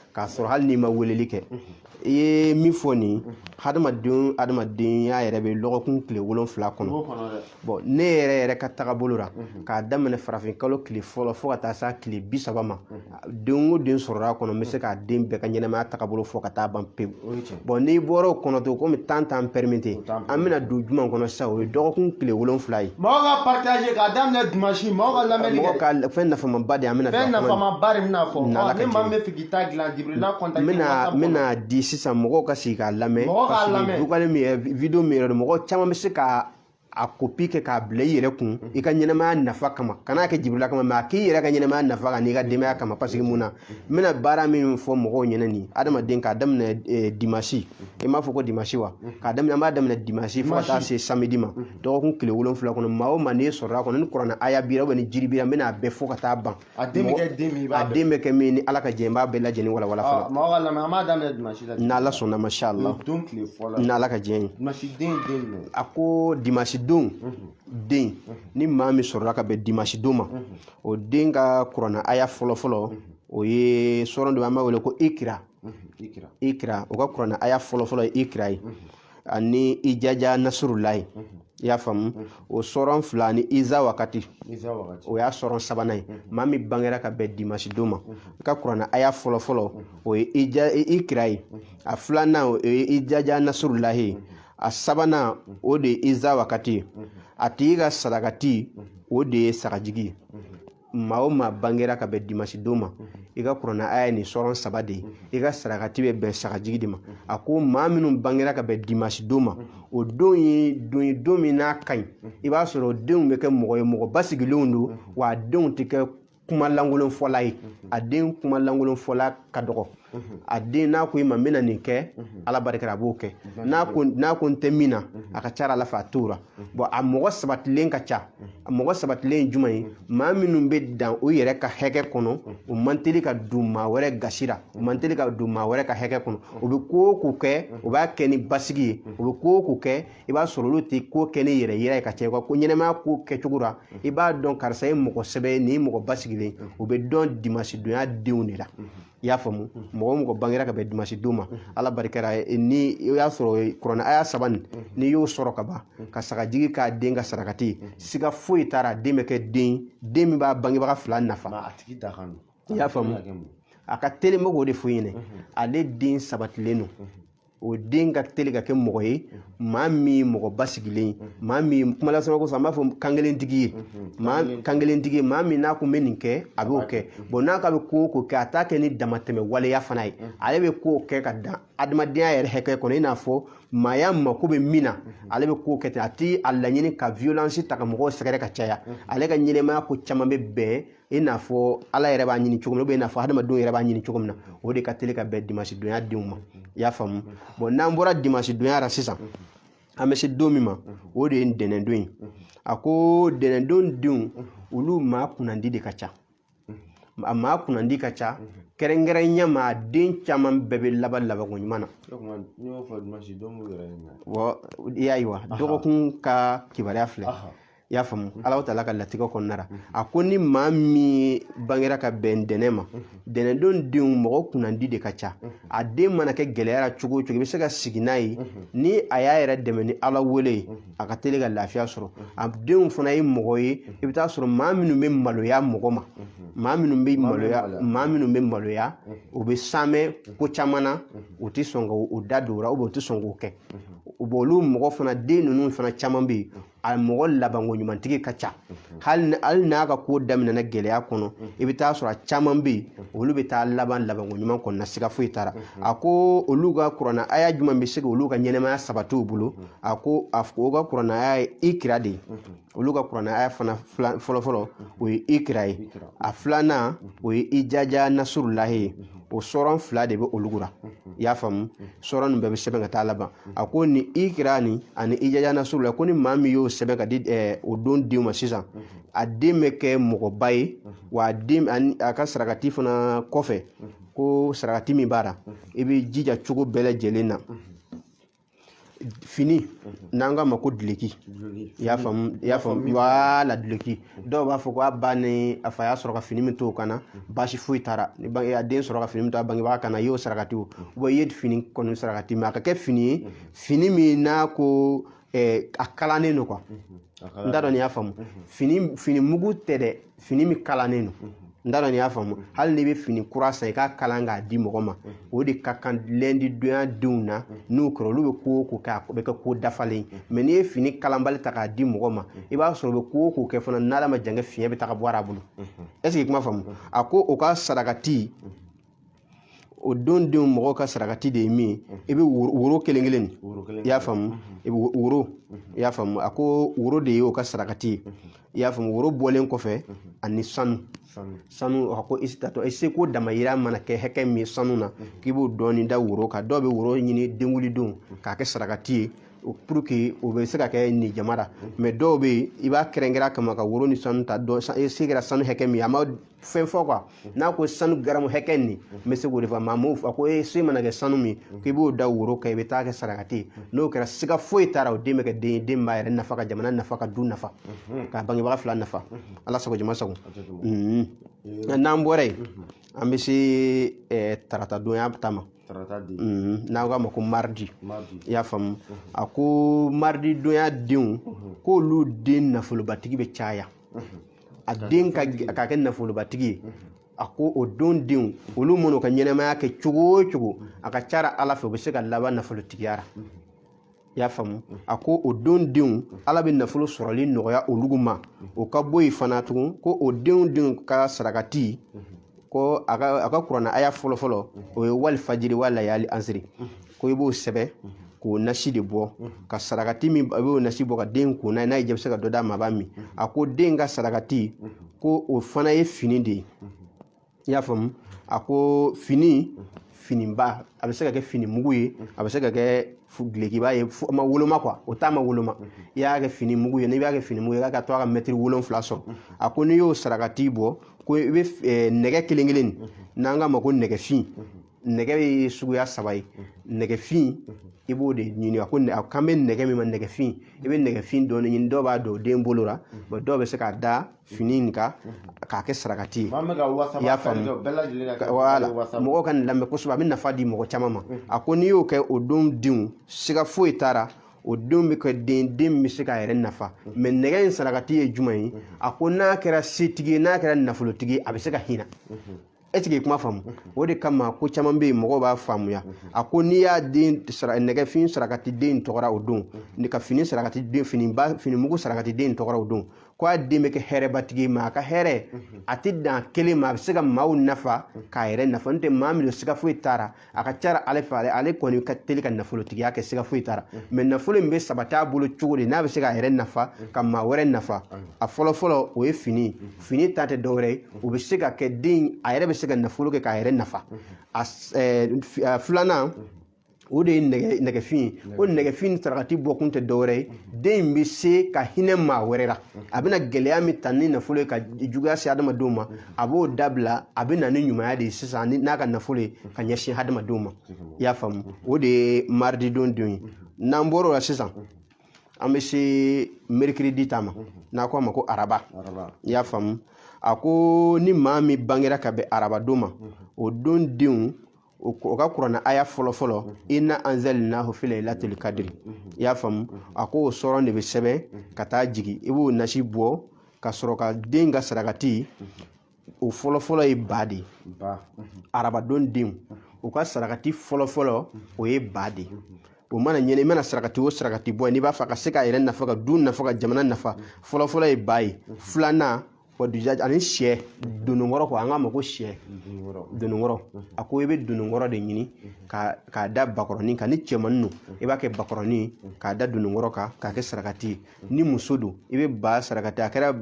k'a sɔrɔ hali n'i ma weleli kɛ i ye min fɔ nin hadamaden hadamadenya yɛrɛ bɛ lɔgɔkun tile wolonfila kɔnɔ bon ne yɛrɛ yɛrɛ ka tagabolo la k'a daminɛ farafin kalo tile fɔlɔ fo ka taa se tile bi saba ma den o den sɔrɔla a kɔnɔ n bɛ se k'a den bɛɛ ka ɲɛnamaya tagabolo fɔ ka taa ban pewu bon n'i bɔra o kɔnɔ to komi temps t'an permettre an bɛna don jumɛn kɔnɔ sisan o ye dɔgɔkun tile wolonfila ye mɔgɔw ka partager k'a daminɛ dimansi mɔgɔw ka lamɛnni kɛ mɔgɔ ka fɛn nafamaba de an bɛna fɛn nafamaba de bɛna fɔ ni maa min b'a fɛ k'i ta dilan jibirila contact bɛna bɛna di sisan mɔgɔw ka sigi k'a lamɛn mɔgɔ k'a lamɛn vocal min yɛrɛ video min yɛrɛ don mɔgɔ caman bɛ se ka a kopi kɛ k'a bila i yɛrɛ kun mhm. i ka ɲɛnamaya nafa kama kan'a kɛ jibirila kama mɛ a k'i yɛrɛ ka ɲɛnamaya nafa kan n'i ka denbaya kama pasiki mun na n mhm. bɛna baara min fɔ mɔgɔw ɲɛna nin adamaden k'a daminɛ eh, dimasi mhm. i m'a fɔ ko dimasi wa k'a daminɛ an b'a daminɛ dimasi fo ka taa se samedi ma dɔgɔkun tile wolonfila kɔnɔ maa o maa n'i sɔrɔla kɔnɔ ni kurana aya b'i ra ubɛ ni jiri b'i ra n bɛna a bɛɛ fɔ ka taa ban A den bɛ kɛ den min i b'a a bɛɛ den bɛ kɛ min ni ala ka jɛ n b'a bɛɛ lajɛlen walawala Ɔ, fɔlɔ mɔgɔw k'a lamɛn an b'a daminɛ dimansi la n'ala sɔnna masha allah Nin don tile fɔlɔ n'ala ka jɛ ye dimansi den ye den min ye a ko dimansi don den ni maa min sɔrɔla ka bɛn dimansi don ma o den ka kurana aya fɔlɔfɔlɔ o ye sɔrɔn dɔ bɛ an b'a wele ko ikira ikira ikira o ka kurana aya fɔlɔfɔlɔ ye ikira ye ani ijaja nasurulahi i y'a faamu o sɔrɔn fila ani iza wakati o y'a sɔrɔn sabanan ye maa min bangera ka bɛn dimasi don ma i ka kurana aya fɔlɔfɔlɔ o ye ikira ye a filanan o ye ijaja nasurulahi ye a sabanan o de ye iza wakati ye a tigi ka sarakati o de ye sagajigi ye maa o maa bangera ka bɛn dimasi don ma i ka kurana aya nin sɔrɔn saba de ye i ka sarakati bɛ bɛn sagajigi de ma a ko maa minnu bangera ka bɛn dimasi don ma o don ye don ye don min n'a ka ɲi i b'a sɔrɔ o denw bɛ kɛ mɔgɔ ye mɔgɔ basigilenw don wa a denw tɛ kɛ kuma lankolon fɔla ye a den kuma lankolon fɔla ka dɔgɔ a den n'a ko i ma n bɛna nin kɛ ala barikara a b'o kɛ n'a ko n'a ko n tɛ min na a ka ca ala fɛ a t'o la bɔn a mɔgɔ sabatilen ka ca a mɔgɔ sabatilen ye jumɛn ye maa minnu bɛ dan u yɛrɛ ka hɛkɛ kɔnɔ u man teli ka don maa wɛrɛ gasi la u man teli ka don maa wɛrɛ ka hɛkɛ kɔnɔ u bɛ ko o ko kɛ u b'a kɛ ni basigi ye u bɛ ko o ko kɛ i b'a sɔrɔ olu tɛ ko kɛ ni yɛrɛ yira ye ka caya ko ɲɛnamaya ko kɛcogo la i b'a dɔn karisa ye mɔgɔ sɛbɛnin ye mɔgɔ basigilen o bɛ dɔn dimasidonya denw de la i y'a faamu mɔgɔ o mɔgɔ bangera ka bɛn dimasi don ma ala barikara ni i y'a sɔrɔ kuranɛ aya saba nin n'i y'o sɔrɔ ka ban ka sagajigi k'a den ka sarakati ye siga foyi t'a ra den bɛ kɛ den den min b'a bangebaga fila nafa a tigi da kan i y'a faamu a ka teli n bɛ k'o de fɔ i ɲɛna ale den sabatilen don o den ka teli ka kɛ mɔgɔ ye maa min ye mɔgɔ basigilen ye maa min ye kuma lasama kosɔn an b'a fɔ kankelentigi ye maa kankelentigi ye maa min n'a ko n bɛ nin kɛ a b'o kɛ bɔn nka a bɛ ko o ko kɛ a t'a kɛ ni damatɛmɛ waleya fana ye ale bɛ ko kɛ ka dan adamadenya yɛrɛ hakɛ kɔnɔ i n'a fɔ maaya mako bɛ min na ale bɛ ko kɛ ten a tɛ a laɲini ka violence ta ka mɔgɔw sɛgɛrɛ ka caya ale ka ɲɛnamaya ko caman bɛ bɛn i n'a fɔ ala yɛrɛ b'a ɲini cogo min na ou bien i n'a fɔ hadamadenw yɛrɛ b'a ɲini cogo min na o de ka teli ka bɛn dimansi donya denw ma i y'a faamu bon n'an bɔra dimansi donya ra sisan an bɛ se don min ma o de ye ntɛnɛndon ye a ko ntɛnɛndon denw olu maa kunnandi de ka ca a maa kunnandi ka ca kɛrɛnkɛrɛnya ma a den caman bɛɛ bɛ laban labanko ɲuman na o tuma n'i y'o fɔ dimansi don b'u yɛrɛ ɲininka wa i y'a ye wa dɔgɔkun ka kibaruya filɛ aha i y'a faamu mhm. ala taala ka latigɛ kɔnɔna ra mhm. a ko ni maa min bangera ka bɛn ntɛnɛn ma mhm. ntɛnɛndon denw mɔgɔ kunnandi de ka ca a den mana kɛ gɛlɛyara cogo o cogo i bɛ se ka sigi n'a ye ni a y'a yɛrɛ dɛmɛ ni ala wele ye a ka teli ka lafiya sɔrɔ a denw fana ye mɔgɔ ye i bɛ taa sɔrɔ maa minnu bɛ maloya mɔgɔ ma maa minnu bɛ maloya maa minnu bɛ maloya u bɛ saamɛ ko caman na u tɛ sɔn ka u da don o la u tɛ sɔn k'o kɛ olu mɔgɔ fana den ninnu fana caman bɛ yen a mɔgɔ labanko ɲumantigi ka ca hali n'a ka ko daminɛna gɛlɛya kɔnɔ i bɛ taa sɔrɔ a caman bɛ yen olu bɛ taa laban labanko ɲuman kɔnɔna siga foyi t'a la a ko olu ka kurana aya jumɛn bɛ se ka olu ka ɲɛnamaya sabati u bolo a ko o ka kurana aya ye ikira de ye olu ka kurana aya fana fɔlɔfɔlɔ o ye ikira ye a filanan o ye ijaja nasurulahi ye o sɔran fila de bɛ olu kunna i y'a faamu sɔran nin bɛɛ bɛ sɛbɛn ka taa laban a ko ni ikira nin ani ijaja nasurula ko ni maa min y'o sɛbɛn ka di ɛɛ o don denw ma sisan a den bɛ kɛ mɔgɔba ye wa a ka sarakati fana kɔfɛ ko sarakati min b'a la i bɛ jija cogo bɛɛ lajɛlen na fini mhm. n'an k'a ma ko duloki i y'a faamu i y'a faamu wala duloki mhm. dɔw b'a fɔ ko a ba ni a fa y'a sɔrɔ ka fini min to o kan na mhm. baasi foyi t'a ra ni bange a den sɔrɔ ka fini min to a bangebaa kan na i y'o sarakati o wa i ye fini kɔni sarakati mɛ a ka kɛ fini ye fini min n'a ko eh, a kalannen don quoi n t'a dɔn n'i y'a faamu fini fini mugu tɛ dɛ fini min kalannen don n t'a dɔn n'i y'a faamu hali n'i bɛ fini kura san i k'a kalan k'a di mɔgɔ ma o de ka kan lɛndidonya denw na n'o kɛra olu bɛ ko o ko kɛ a bɛ kɛ ko dafalen ye mɛ n'i ye fini kalanbali ta k'a di mɔgɔ ma i b'a sɔrɔ u bɛ ko o ko kɛ fana n'ala ma jan kɛ fiɲɛ bɛ taga bɔ a bolo est-ce que i kuma faamu a ko o ka sarakati o don denw mɔgɔw ka sarakati de ye min ye i bɛ woro woro kelen kelen de woro kelen i y'a faamu i bɛ wo- woro i y'a faamu a ko woro de ye o ka sarakati ye i y'a faamu woro bɔlen kɔfɛ ani sanu sanu sanu a ko i tatɔ i seko damayira mana kɛ hakɛ min ye sanu na k'i b'o dɔɔni da woro kan dɔw bɛ woro ɲini denkunlidon k'a kɛ sarakati ye o- pour que o bɛ se ka kɛ nin jama la mɛ dɔw bɛ yen i b'a kɛrɛnkɛrɛn a kama ka woro ni sanu ta dɔ san- i se kɛra sanu hakɛ min ye a ma fɛn fɔ quoi n'a ko sanu garamu hakɛ nin n bɛ se k'o de fɔ maa m'o fɔ a ko ee se mana kɛ sanu min k'i b'o da woro kan i bɛ taa kɛ sarakati ye n'o kɛra siga foyi t'a la o den bɛ kɛ den ye den b'a yɛrɛ nafa ka jamana nafa ka du nafa ka bangebaga fila nafa ala sago jama sago Mhm. n'an bɔra yen an bɛ se eh, tarata donya ta ma tarata di Mhm. n'aw k'a ma ko mardi i y'a faamu a ko mardi donya denw k'olu den nafolobatigi bɛ caya a den ka kɛ nafolobatigi ye a ko o don denw olu man'u ka ɲɛnamaya kɛ cogo o cogo a ka ca la ala fɛ u bɛ se ka laban nafolotigiya la i y'a faamu a ko o don denw ala bɛ nafolo sɔrɔli nɔgɔya olu ma o ka bɔ yen fana tugun ko o denw denw ka sarakati ko a ka a ka kurana aya fɔlɔ fɔlɔ o ye wali fajiri wa layali ansiri ko i b'o sɛbɛn k'o nasi de bɔ ka sarakati min a b'o nasi bɔ ka den ko n'a ye n'a ye jɛ bɛ se ka dɔ d'a ma a b'a min a ko den ka sarakati ko o fana ye fini de ye i y'a faamu a ko fini finiba a bɛ se ka kɛ fini mugu ye a bɛ se ka kɛ dulokiba ye a ma woloma quoi o ta ma woloma i y'a kɛ fini mugu ye n'i b'a kɛ fini mugu ye i k'a to a ka mɛtiri wolonwula sɔrɔ a ko n'i y'o sarakati bɔ ko i bɛ eh, nɛgɛ kelen kelen n'an k'a ma ko nɛgɛfin nɛgɛ ye suguya saba ye nɛgɛfin i b'o de ɲini a ko a kan bɛ nɛgɛ min ma nɛgɛfin i bɛ nɛgɛfin dɔɔni ɲini dɔw b'a don den bolo la dɔw bɛ se k'a da fini in kan k'a kɛ sarakati ye i y'a faamu mɔgɔw ka nin lamɛn kosɛbɛ a bɛ nafa di mɔgɔ caman ma a ko n'i y'o kɛ o don denw siga foyi t'a la o denw bɛ kɛ den den bɛ se k'a yɛrɛ nafa mɛ nɛgɛ in sarakati ye jumɛn ye a ko n'a kɛra setigi ye n'a kɛra nafolotigi ye a bɛ se ka hinɛ e tigi kuma faamu o de kama ko caman bɛ yen mɔgɔw b'a faamuya a ko n'i y'a den nɛgɛfin sarakati den tɔgɔ la o don ka fini sarakati den finiba fini mugu sarakati den tɔgɔ la o don ko a den bɛ kɛ hɛrɛbatigi ye mɛ a ka hɛrɛ a tɛ dan kelen ma a bɛ se ka maaw nafa k'a yɛrɛ nafa n'o tɛ maa min don siga foyi t'a la a ka ca ala fɛ ale ale kɔni ka teli ka nafolotigiya kɛ siga foyi t'a la mɛ nafolo in bɛ sabati a bolo cogo di n'a bɛ se k'a yɛrɛ nafa ka maa wɛrɛ nafa a fɔlɔ fɔlɔ o ye fini fini ta tɛ dɔwɛrɛ ye o bɛ se ka kɛ den a yɛrɛ bɛ se ka nafolo kɛ k'a yɛrɛ nafa a s- eh, f- eh, filanan o de ye nɛgɛ nɛgɛfin ye o nɛgɛfin sarakati bɔkun tɛ dɔwɛrɛ ye den in bɛ se ka hinɛ maa wɛrɛ la a bɛna gɛlɛya min ta ni nafolo ye ka juguya se adamadenw ma a b'o dabila a bɛ na ni ɲumanya de ye sisan n'a ka nafolo ye ka ɲɛsin hadamadenw ma i y'a faamu o de ye mardi don denw ye n'an bɔr'o la sisan an bɛ se mercredi ta ma n'a ko a ma ko araba i y'a faamu a ko ni maa min bangera ka bɛn araba don ma o don denw o ka kuranna aya fɔlɔ fɔlɔ inna anzalnahu fi lailatul qadr i y'a faamu a ko o sɔrɔn de bɛ sɛbɛn ka taa jigin i b'o nasi bɔ ka sɔrɔ ka den ka sarakati o fɔlɔ fɔlɔ ye ba de ye arabadon denw o ka sarakati fɔlɔ fɔlɔ o ye ba de ye o mana ɲɛna i mana sarakati o sarakati bɔ n'i b'a fɛ ka se k'a yɛrɛ nafa ka du nafa ka jamana nafa fɔlɔ fɔlɔ ye ba ye filanan ani sɛ dononkɔrɔ ko an k'a ma ko sɛ dononkɔrɔ a ko i bɛ dononkɔrɔ de ɲini k'a da bakɔrɔnin kan ni cɛmannin don i b'a kɛ bakɔrɔnin k'a da dononkɔrɔ kan k'a kɛ sarakati ye ni muso don i bɛ ba sarakati a kɛra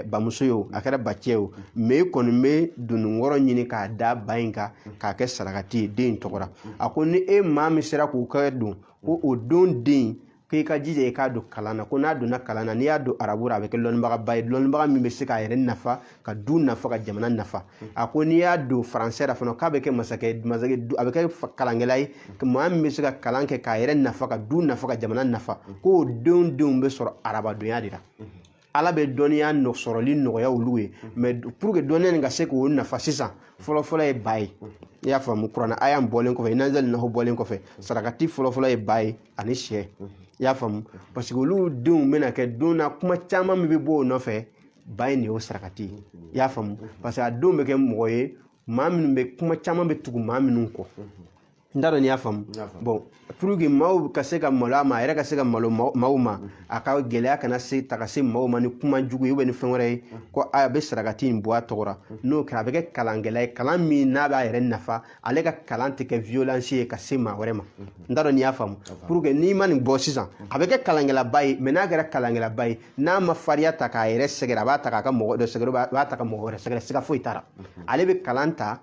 bamuso ye o a kɛra bacɛ ye o mɛ i kɔni bɛ dononkɔrɔ ɲini k'a da ba in kan k'a kɛ sarakati ye den in tɔgɔ la a ko ni e maa min sera k'o kɛ don ko o don den ko i ka jija i k'a don kalan na ko n'a donna kalan na n'i y'a don arabu la a bɛ kɛ lɔnnibagaba ye lɔnnibaga min bɛ se k'a yɛrɛ nafa ka du nafa ka jamana nafa a ko n'i y'a don faransɛ la fana k'a bɛ kɛ masakɛ masakɛ a bɛ kɛ kalankɛla ye maa min bɛ se ka kalan kɛ k'a yɛrɛ nafa ka du nafa ka jamana nafa k'o denw denw bɛ sɔrɔ arabadonya de la ala bɛ dɔnniya sɔrɔli nɔgɔya olu ye mɛ pour que dɔnniya nin ka se k'o nafa sisan fɔlɔfɔlɔ ye ba ye i y'a faamu kuranna aya in bɔlen kɔfɛ inna anzalnahu bɔlen kɔfɛ sarakati fɔlɔfɔlɔ ye ba ye ani sɛ i y'a faamu parce que olu denw bɛna kɛ don na kuma caman min bɛ bɔ o nɔfɛ ba in de y'o sarakati ye i y'a faamu parce que a denw bɛ kɛ mɔgɔ ye maa minnu bɛ kuma caman bɛ tugu maa minnu kɔ n t'a dɔn n'i y'a faamu bon pour que maaw ka se ka malo a ma a yɛrɛ ka se ka malo maaw ma a ka gɛlɛya kana se ta ka se maaw ma ni kuma jugu ye ou bien ni fɛn wɛrɛ ye ko a bɛ sarakati in bɔ a tɔgɔra n'o kɛra a bɛ kɛ kalankɛla ye kalan min n'a b'a yɛrɛ nafa ale ka kalan tɛ kɛ violence ye ka se maa wɛrɛ ma n t'a dɔn n'i y'a faamu pour que n'i ma nin bɔ sisan a bɛ kɛ kalankɛlaba ye mɛ n'a kɛra kalankɛlaba ye n'a ma fariya ta k'a yɛrɛ sɛgɛrɛ a b'a ta k'a ka mɔgɔ dɔ sɛgɛrɛ a b'a ta ka mɔgɔ wɛrɛ sɛgɛrɛ siga foyi t'a la ale bɛ kalan ta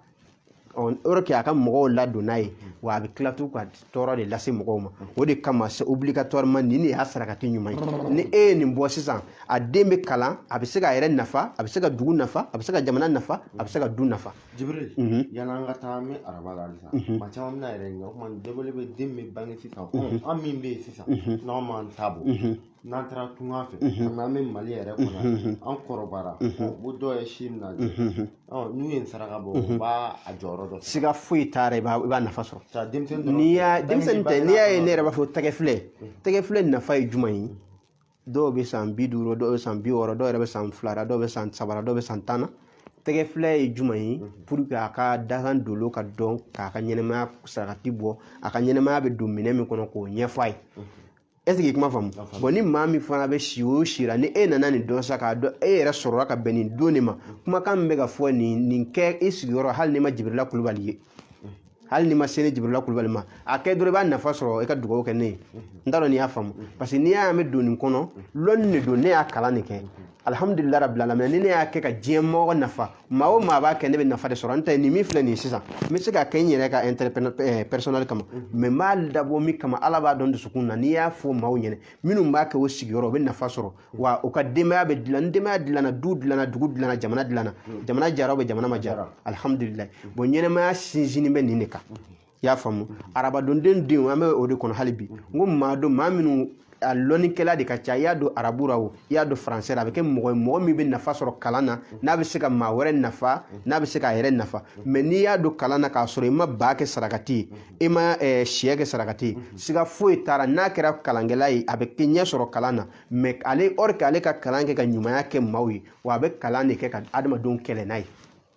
or que a ka mɔgɔw ladon n'a ye wa a bɛ tila tugun ka tɔɔrɔ de lase mɔgɔw ma o de kama c'est obligatoirement nin de y'a sarakati ɲuman ye ni e ye nin bɔ sisan a den bɛ kalan a bɛ se k'a yɛrɛ nafa a bɛ se ka dugu nafa a bɛ se ka jamana nafa a bɛ se ka du nafa Jibril Mhm. yan'an ka taa an bɛ araba la halisa Mhm. maa caman bɛn'a yɛrɛ ɲininka o tuma nin dɔbɔli bɛ den min bɛ bange sisan ko an min bɛ yen sisan n'an m'an ta bɔ Mhm. n'an taara tunga fɛ komi an bɛ Mali yɛrɛ kɔnɔ yan an kɔrɔbayara o dɔ ye si minɛ an na ɔ n'u ye nin saraka bɔ u b'a a jɔyɔrɔ dɔ fa siga foyi t'a la i b'a i b'a nafa sɔrɔ ka denmisɛnnin dɔrɔn n'i y'a denmisɛnnin tɛ n'i y'a ye ne yɛrɛ b'a fɔ tɛgɛfilɛ tɛgɛfilɛ nafa ye jumɛn ye dɔw bɛ san bi duuru dɔw bɛ san bi wɔɔrɔ dɔw yɛrɛ bɛ san fila la dɔw bɛ san saba la dɔw bɛ san tan na tɛgɛfilɛ ye jumɛn ye pour que a ka dakan dolo ka dɔn k'a ka ɲɛnɛmaya sarakati bɔ a ka ɲɛnɛmaya bɛ don minɛn min kɔnɔ k'o ɲɛf'a ye est-ce que kuma faamu bon ni maa min fana bɛ si o si la ni e nana nin dɔn sa k'a dɔn e yɛrɛ sɔrɔla ka bɛn nin don de ma kumakan min bɛ ka fɔ nin nin kɛ i sigiyɔrɔ hali n'i ma jibirila kulubali ye hali n'i ma se ne jibirila kulubali ma a kɛ dɔrɔn i b'a nafa sɔrɔ i ka dugawu kɛ ne ye n t'a dɔn n'i y'a faamu parce que n'i y'a ye an bɛ don nin kɔnɔ lɔnni de don ne y'a kalan de kɛ alhamdulillah rabbil alamin ni ne y'a kɛ ka diɲɛ mɔgɔ nafa maa o maa b'a kɛ ne bɛ nafa de sɔrɔ n ta ye nin min filɛ nin ye sisan n bɛ se ka kɛ n yɛrɛ ka intérêt eh, personnel kama mais n b'a dabɔ min kama ala b'a dɔn dusukun na n'i y'a fɔ maaw ɲɛna minnu b'a kɛ u sigiyɔrɔ u bɛ nafa sɔrɔ wa u ka denbaya bɛ dilan ni denbaya dilanna du dilanna dugu dilanna jamana dilanna jamana jara ou bien jamana ma jara alhamdulillah bon ɲɛnamaya sinsinni bɛ nin de kan i y'a faamu arabadon denw an bɛ o de kɔnɔ hali bi n ko maa don maa minnu a lɔnnikɛla de ka ca i y'a don arabu ra o i y'a don faransɛ ra a bɛ kɛ mɔgɔ ye mɔgɔ min bɛ nafa sɔrɔ kalan na n'a bɛ se ka maa wɛrɛ nafa n'a bɛ se k'a yɛrɛ nafa mais n'i y'a don kalan na k'a sɔrɔ i ma ba kɛ sarakati ye i ma eh, siyɛ kɛ sarakati ye siga foyi t'a ra n'a kɛra kalankɛla ye a bɛ kɛ ɲɛ sɔrɔ kalan na mais ale au lieu que ale ka kalan kɛ ka ɲumanya kɛ maaw ye wa a bɛ kalan de kɛ ka adamadenw kɛlɛ n'a ye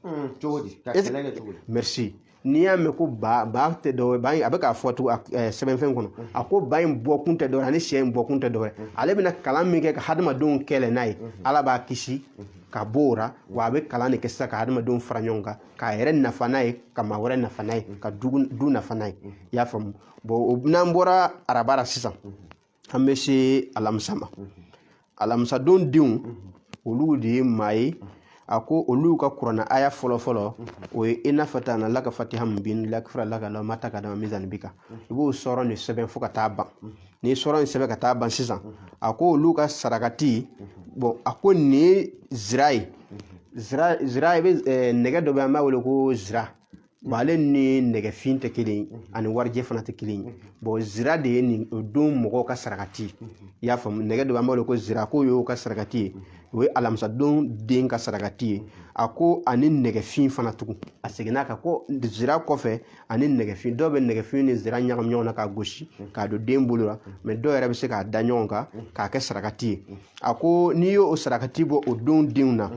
Hmm, cogo di ka kɛlɛ kɛ cogo di merci n'i y'a mɛn ko ba ba tɛ dɔwɛrɛ ba in a bɛ k'a fɔ tugun eh, sɛbɛnfɛn kɔnɔ hmm. a ko ba in bɔkun tɛ dɔwɛrɛ ani sɛ in bɔkun tɛ dɔwɛrɛ hmm. ale bɛna kalan min kɛ ka hadamadenw kɛlɛ n'a ye ala b'a kisi ka bɔ o ra wa a bɛ kalan de kɛ sisan ka hadamadenw fara ɲɔgɔn kan k'a yɛrɛ nafa n'a ye ka maa wɛrɛ nafa n'a ye ka du nafa n'a ye i y'a faamu bon n'an bɔra araba la sisan an bɛ se alamisa ma alamisadon denw olu de ye maa ye a ko olu ka kurana aya fɔlɔ fɔlɔ o ye inna fatahna laka fathan mubin liyaghfira laka lah ma taqaddama min zanbika i b'o suran nin sɛbɛn fo ka taa ban n'i suran nin sɛbɛn ka taa ban sisan a ko olu ka sarakati bon a ko nin ye zira ye zira zira i bɛ eh, nɛgɛ dɔ bɛ an b'a wele ko zira Bon ale ni nɛgɛfin tɛ kelen ye ani warijɛ fana tɛ kelen ye bon zira de ye nin o don mɔgɔw ka sarakati ye i y'a faamu nɛgɛ dɔ b'an bolo ko zira k'o y'o ka sarakati ye o ye alamisadon den ka sarakati ye a ko ani nɛgɛfin fana tugun a seginna kan ko zira kɔfɛ ani nɛgɛfin dɔw bɛ nɛgɛfin ni zira ɲagami ɲɔgɔn na k'a gosi k'a don den bolo la mais dɔw yɛrɛ bɛ se k'a da ɲɔgɔn kan k'a kɛ sarakati ye a ko n'i y'o sarakati bɔ o don denw na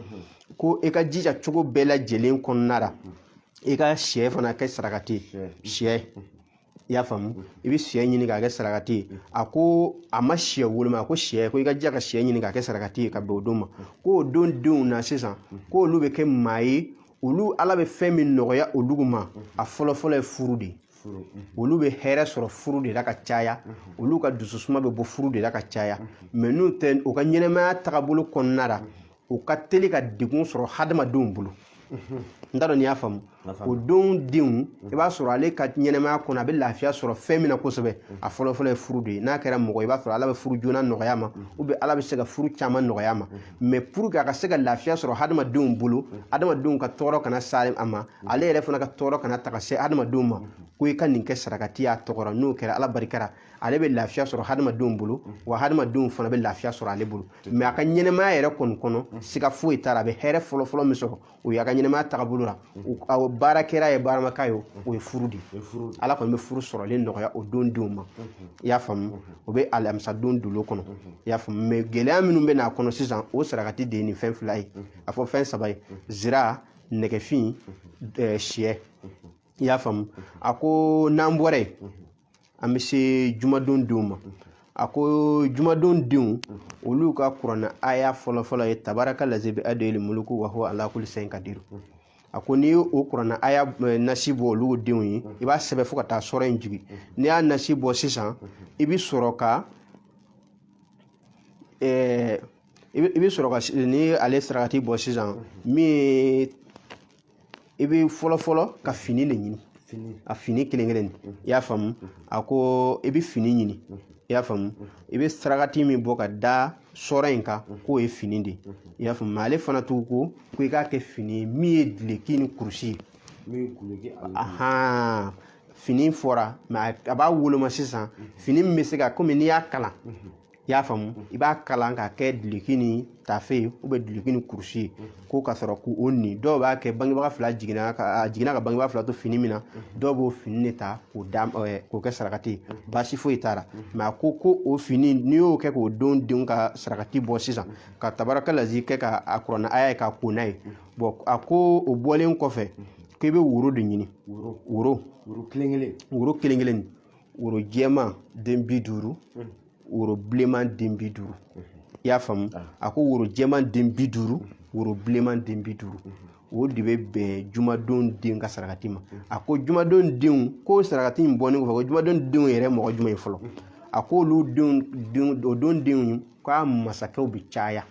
ko e ka jija cogo bɛɛ lajɛlen kɔnɔna la i ka sɛ fana kɛ sarakati sɛ i y'a faamu i bɛ sɛ ɲini k'a kɛ sarakati ye a ko a ma sɛ woloma a ko sɛ ko i ka jija ka sɛ ɲini k'a kɛ sarakati ye ka bɛn o don ma ko o don denw na sisan ko olu bɛ kɛ maa ye olu ala bɛ fɛn min nɔgɔya olu ma a fɔlɔ fɔlɔ ye furu de ye olu bɛ hɛrɛ sɔrɔ furu de la ka caya olu ka dususuma bɛ bɔ furu de la ka caya mais n'o tɛ u ka ɲɛnamaya tagabolo kɔnɔna la u ka teli ka degun sɔrɔ hadamadenw bolo n t'a dɔn n'i y'a faamu o don denw i b'a sɔrɔ ale ka ɲɛnɛmaya kɔnɔ a bɛ lafiya sɔrɔ fɛn min na kosɛbɛ a fɔlɔfɔlɔ ye furu de ye n'a kɛra mɔgɔ i b'a sɔrɔ ala bɛ furu joona nɔgɔya a ma ubiyɛn ala bɛ se ka furu caman nɔgɔya a ma mɛ puruke a ka se ka lafiya sɔrɔ hadamadenw bolo hadamadenw ka tɔɔrɔ kana se a ma ale yɛrɛ fana ka tɔɔrɔ kana taa ka se hadamadenw ma ko i ka nin kɛ sarakati y'a tɔgɔ ra n'o kɛra ala barika ra ale bɛ lafiya sɔrɔ hadamadenw bolo wa hadamadenw fana bɛ lafiya sɔrɔ ale bolo mɛ a ka ɲɛnɛmaya yɛrɛ kɔni kɔnɔ siga foyi t'a la a bɛ hɛrɛ fɔlɔfɔlɔ min sɔrɔ o y'a ka ɲɛnɛmaya tagabolo la o baara kɛra ye baaramaka ye o ye furu de ye ala kɔni bɛ furu sɔrɔlen nɔgɔya o don denw ma i y'a faamu o bɛ alamisa don dolo kɔnɔ i y'a faamu mɛ gɛlɛya minnu bɛ n'a kɔnɔ sisan o sarakati de ye nin fɛn fila ye a fɔ fɛn saba ye zira nɛgɛfin siyɛ i y'a faamu a ko n'an bɔra yen an bɛ se jumadon denw ma a ko jumadon denw olu ka kuranna aya fɔlɔfɔlɔ ye tabaraka lazi biyadihili muluku wa huwa ala kulli sayin kadiru a ko n'i y'o kuranna aya eh, nasi bɔ olu denw ye i b'a sɛbɛn fo ka taa sura in jigin n'i y'a nasi bɔ sisan i bɛ sɔrɔ ka eh, i bɛ- i bɛ sɔrɔ ka s- n'ale sarakati bɔ sisan min ye i bɛ fɔlɔfɔlɔ ka fini de ɲini a fini kelen kelen i y'a faamu a ko i bɛ fini ɲini i y'a faamu i bɛ sarakati min bɔ ka da sura in kan k'o ye fini de ye i y'a faamu ale fana tugu ko i k'a kɛ fini ye min ye duloki ni kurusi ye fini fɔra a b'a woloma sisan fini min bɛ se ka komi n'i y'a kalan i y'a faamu i b'a kalan k'a kɛ duloki ni tafe ye ubiyɛn duloki ni kurusi ye ko ka sɔrɔ k'o o ni dɔw b'a kɛ bangebaga fila jiginna ka a jiginna ka bangebaga fila to fini min na dɔw b'o fini de ta k'o da ɛɛ, k'o kɛ sarakati ye baasi foyi t'a la mɛ a ko ko o fini n'i y'o kɛ k'o don denw ka sarakati bɔ sisan ka tabaraka lazi kɛ ka a kuranna aya ye ka ko n'a ye bɔn a ko o bɔlen kɔfɛ k'i bɛ woro de ɲini woro woro woro kelen kelen woro kelen kelen woro jɛman den bi duuru woro bilenman den bi duuru i y'a faamu a ko woro jɛman den bi duuru woro bilenman den bi duuru o de bɛ bɛn jumadon den ka sarakati ma a ko jumadon denw ko sarakati in bɔnen kɔfɛ ko jumadon denw yɛrɛ mɔgɔ jumɛn ye fɔlɔ a ko olu denw denw o don denw k'a masakɛw bɛ caya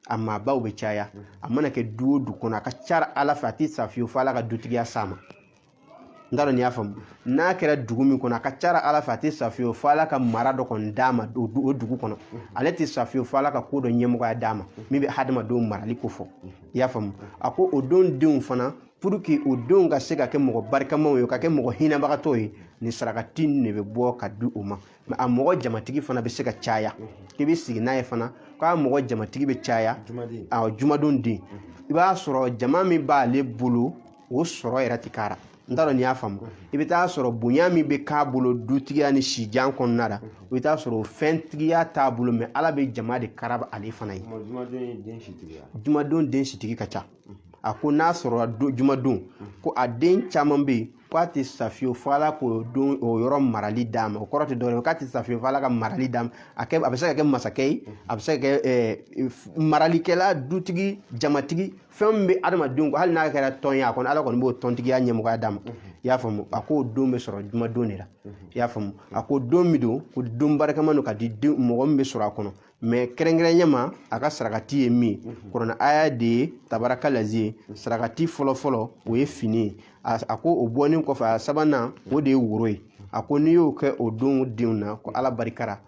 a maabaw bɛ caya a mana kɛ du o du kɔnɔ a ka ca ala fɛ a tɛ sa fiyewu fo ala ka dutigiya s'a ma n t'a dɔn n'i y'a faamu n'a kɛra dugu min kɔnɔ a ka ca ra ala fɛ a tɛ sa fiyewu fo ala ka mara dɔ kɔni d'a ma o du- o dugu kɔnɔ ale tɛ sa fiyewu fo ala ka ko dɔ ɲɛmɔgɔya d'a ma min bɛ hadamadenw marali ko fɔ i y'a faamu a ko o don denw fana pour que o denw ka se ka kɛ mɔgɔ barikamaw ye ka kɛ mɔgɔ hinɛbagatɔw ye nin sarakati nin de bɛ bɔ ka di o ma mɛ a mɔgɔ jamatigi fana bɛ se ka caya k'i bɛ sigi n'a ye fana k'a mɔgɔ jamatigi bɛ caya juma den. awɔ jumadon den i b'a sɔrɔ jama min b'ale bolo o sɔrɔ yɛrɛ ti k'a ra n t'a dɔn n'i y'a faamu i bɛ taa sɔrɔ bonya min bɛ k'a bolo dutigiya ni sijan kɔnɔna la i bɛ taa sɔrɔ o fɛntigiya t'a bolo mɛ ala bɛ jama de karaba ale fana ye jumadon ye den sitigiya jumadon den sitigi ka ca a ko n'a sɔrɔla don jumadon ko a den caman bɛ yen ko a tɛ sa fiyewu fo ala k'o don o yɔrɔ marali d'a ma o kɔrɔ tɛ dɔwɛrɛ ye k'a tɛ sa fiyewu fo ala ka marali d'a ma a kɛ a bɛ se ka kɛ masakɛ ye a bɛ se ka kɛ ɛɛ maralikɛla dutigi jamatigi fɛn min bɛ adamadenw hali n'a kɛra tɔn ye a kɔni ala kɔni b'o tɔntigiya ɲɛmɔgɔya d'a ma i y'a faamu a k'o don bɛ sɔrɔ jumadon de la i y'a faamu a ko don min don ko don barikama don ka di mɔgɔ min bɛ sɔrɔ a kɔnɔ mɛ kɛrɛnkɛrɛnya ma a ka sarakati ye min kuranɛ aya de ye tabaraka lazi ye sarakati fɔlɔfɔlɔ o ye fini ye a ko o bɔnen kɔfɛ a sabanan o de ye woro ye a ko n'i y'o kɛ o don denw na ko ala barika ra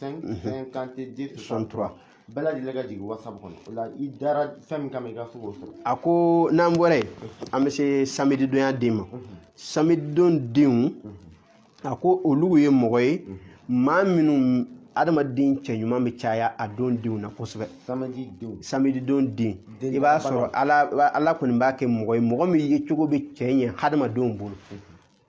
5 50 63 bɛɛ lajɛlen ka jigin whatsapp kɔnɔ o la i dara fɛn min kama i ka se k'o sɔrɔ a ko n'an bɔra yen an bɛ se samedi donya den ma samedi don denw a ko olu ye mɔgɔ ye maa minnu adamaden cɛ ɲuman bɛ caya a don denw na kosɛbɛ samedi don samedi don den i b'a sɔrɔ ala ala kɔni b'a kɛ mɔgɔ ye mɔgɔ min yecogo bɛ cɛ ɲɛ hadamadenw bolo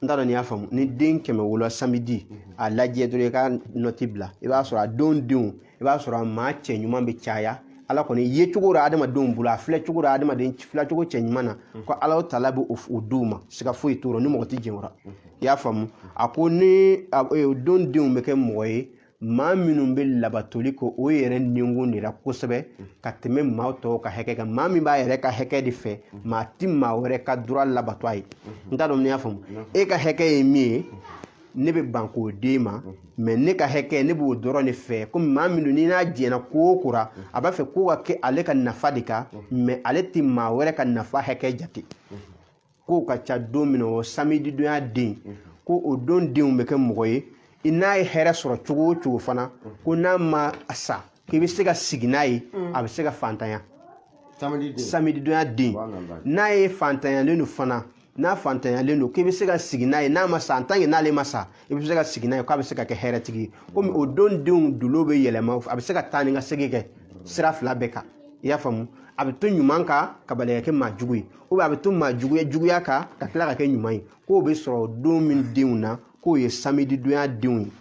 n t'a dɔn n'i y'a faamu ni den kɛmɛ wolola samedi a lajɛ dɔrɔn i ka nɔti bila i b'a sɔrɔ a don denw i b'a sɔrɔ a maa cɛ ɲuman bɛ caya ala kɔni yecogo la adamadenw bolo a filɛ cogo la adamaden filɛ cogo cɛ ɲuman na ko ala taala bɛ o d'u ma siga foyi t'o rɔ ni mɔgɔ tɛ jɛn o rɔ i y'a faamu a ko ni a, e, o don denw bɛ kɛ mɔgɔ ye maa minnu bɛ labatoli k'o yɛrɛ nikun de la kosɛbɛ ka tɛmɛ maa tɔw ka hakɛ kan maa min b'a yɛrɛ ka hakɛ de fɛ maa ti maa wɛrɛ ka droit labato a ye n t'a dɔn n'i y'a faamu e ka hakɛ ye min ye ne bɛ ban k'o d'e ma mɛ ne ka hakɛ ne b'o dɔrɔn de fɛ komi maa min don n'i n'a jɛna ko o ko ra a b'a fɛ ko ka kɛ ale ka nafa de kan mɛ ale tɛ maa wɛrɛ ka nafa hakɛ jate k'o ka ca don min o samedi donya den ko o don denw bɛ kɛ mɔgɔ ye n'a ye hɛrɛ sɔrɔ cogo o cogo fana ko n'a ma sa k'i bɛ se ka sigi n'a ye a bɛ se ka fantanya samedi donya den n'a ye fantanyalen don fana n'a fantanyalen don k'i bɛ se ka sigi n'a ye n'a ma sa en tant que n'ale ma sa i bɛ se ka sigi n'a ye k'a bɛ se ka kɛ hɛrɛtigi ye komi o don denw dolo bɛ yɛlɛma a bɛ se ka taa ni ka segin kɛ sira fila bɛɛ kan i y'a faamu a bɛ to ɲuman kan ka bali ka kɛ maa jugu ye ou bien a bɛ to maa ju- juguya kan ka tila ka kɛ ɲuman ye k'o bɛ sɔrɔ don min denw na k'o ye samedi donya denw ye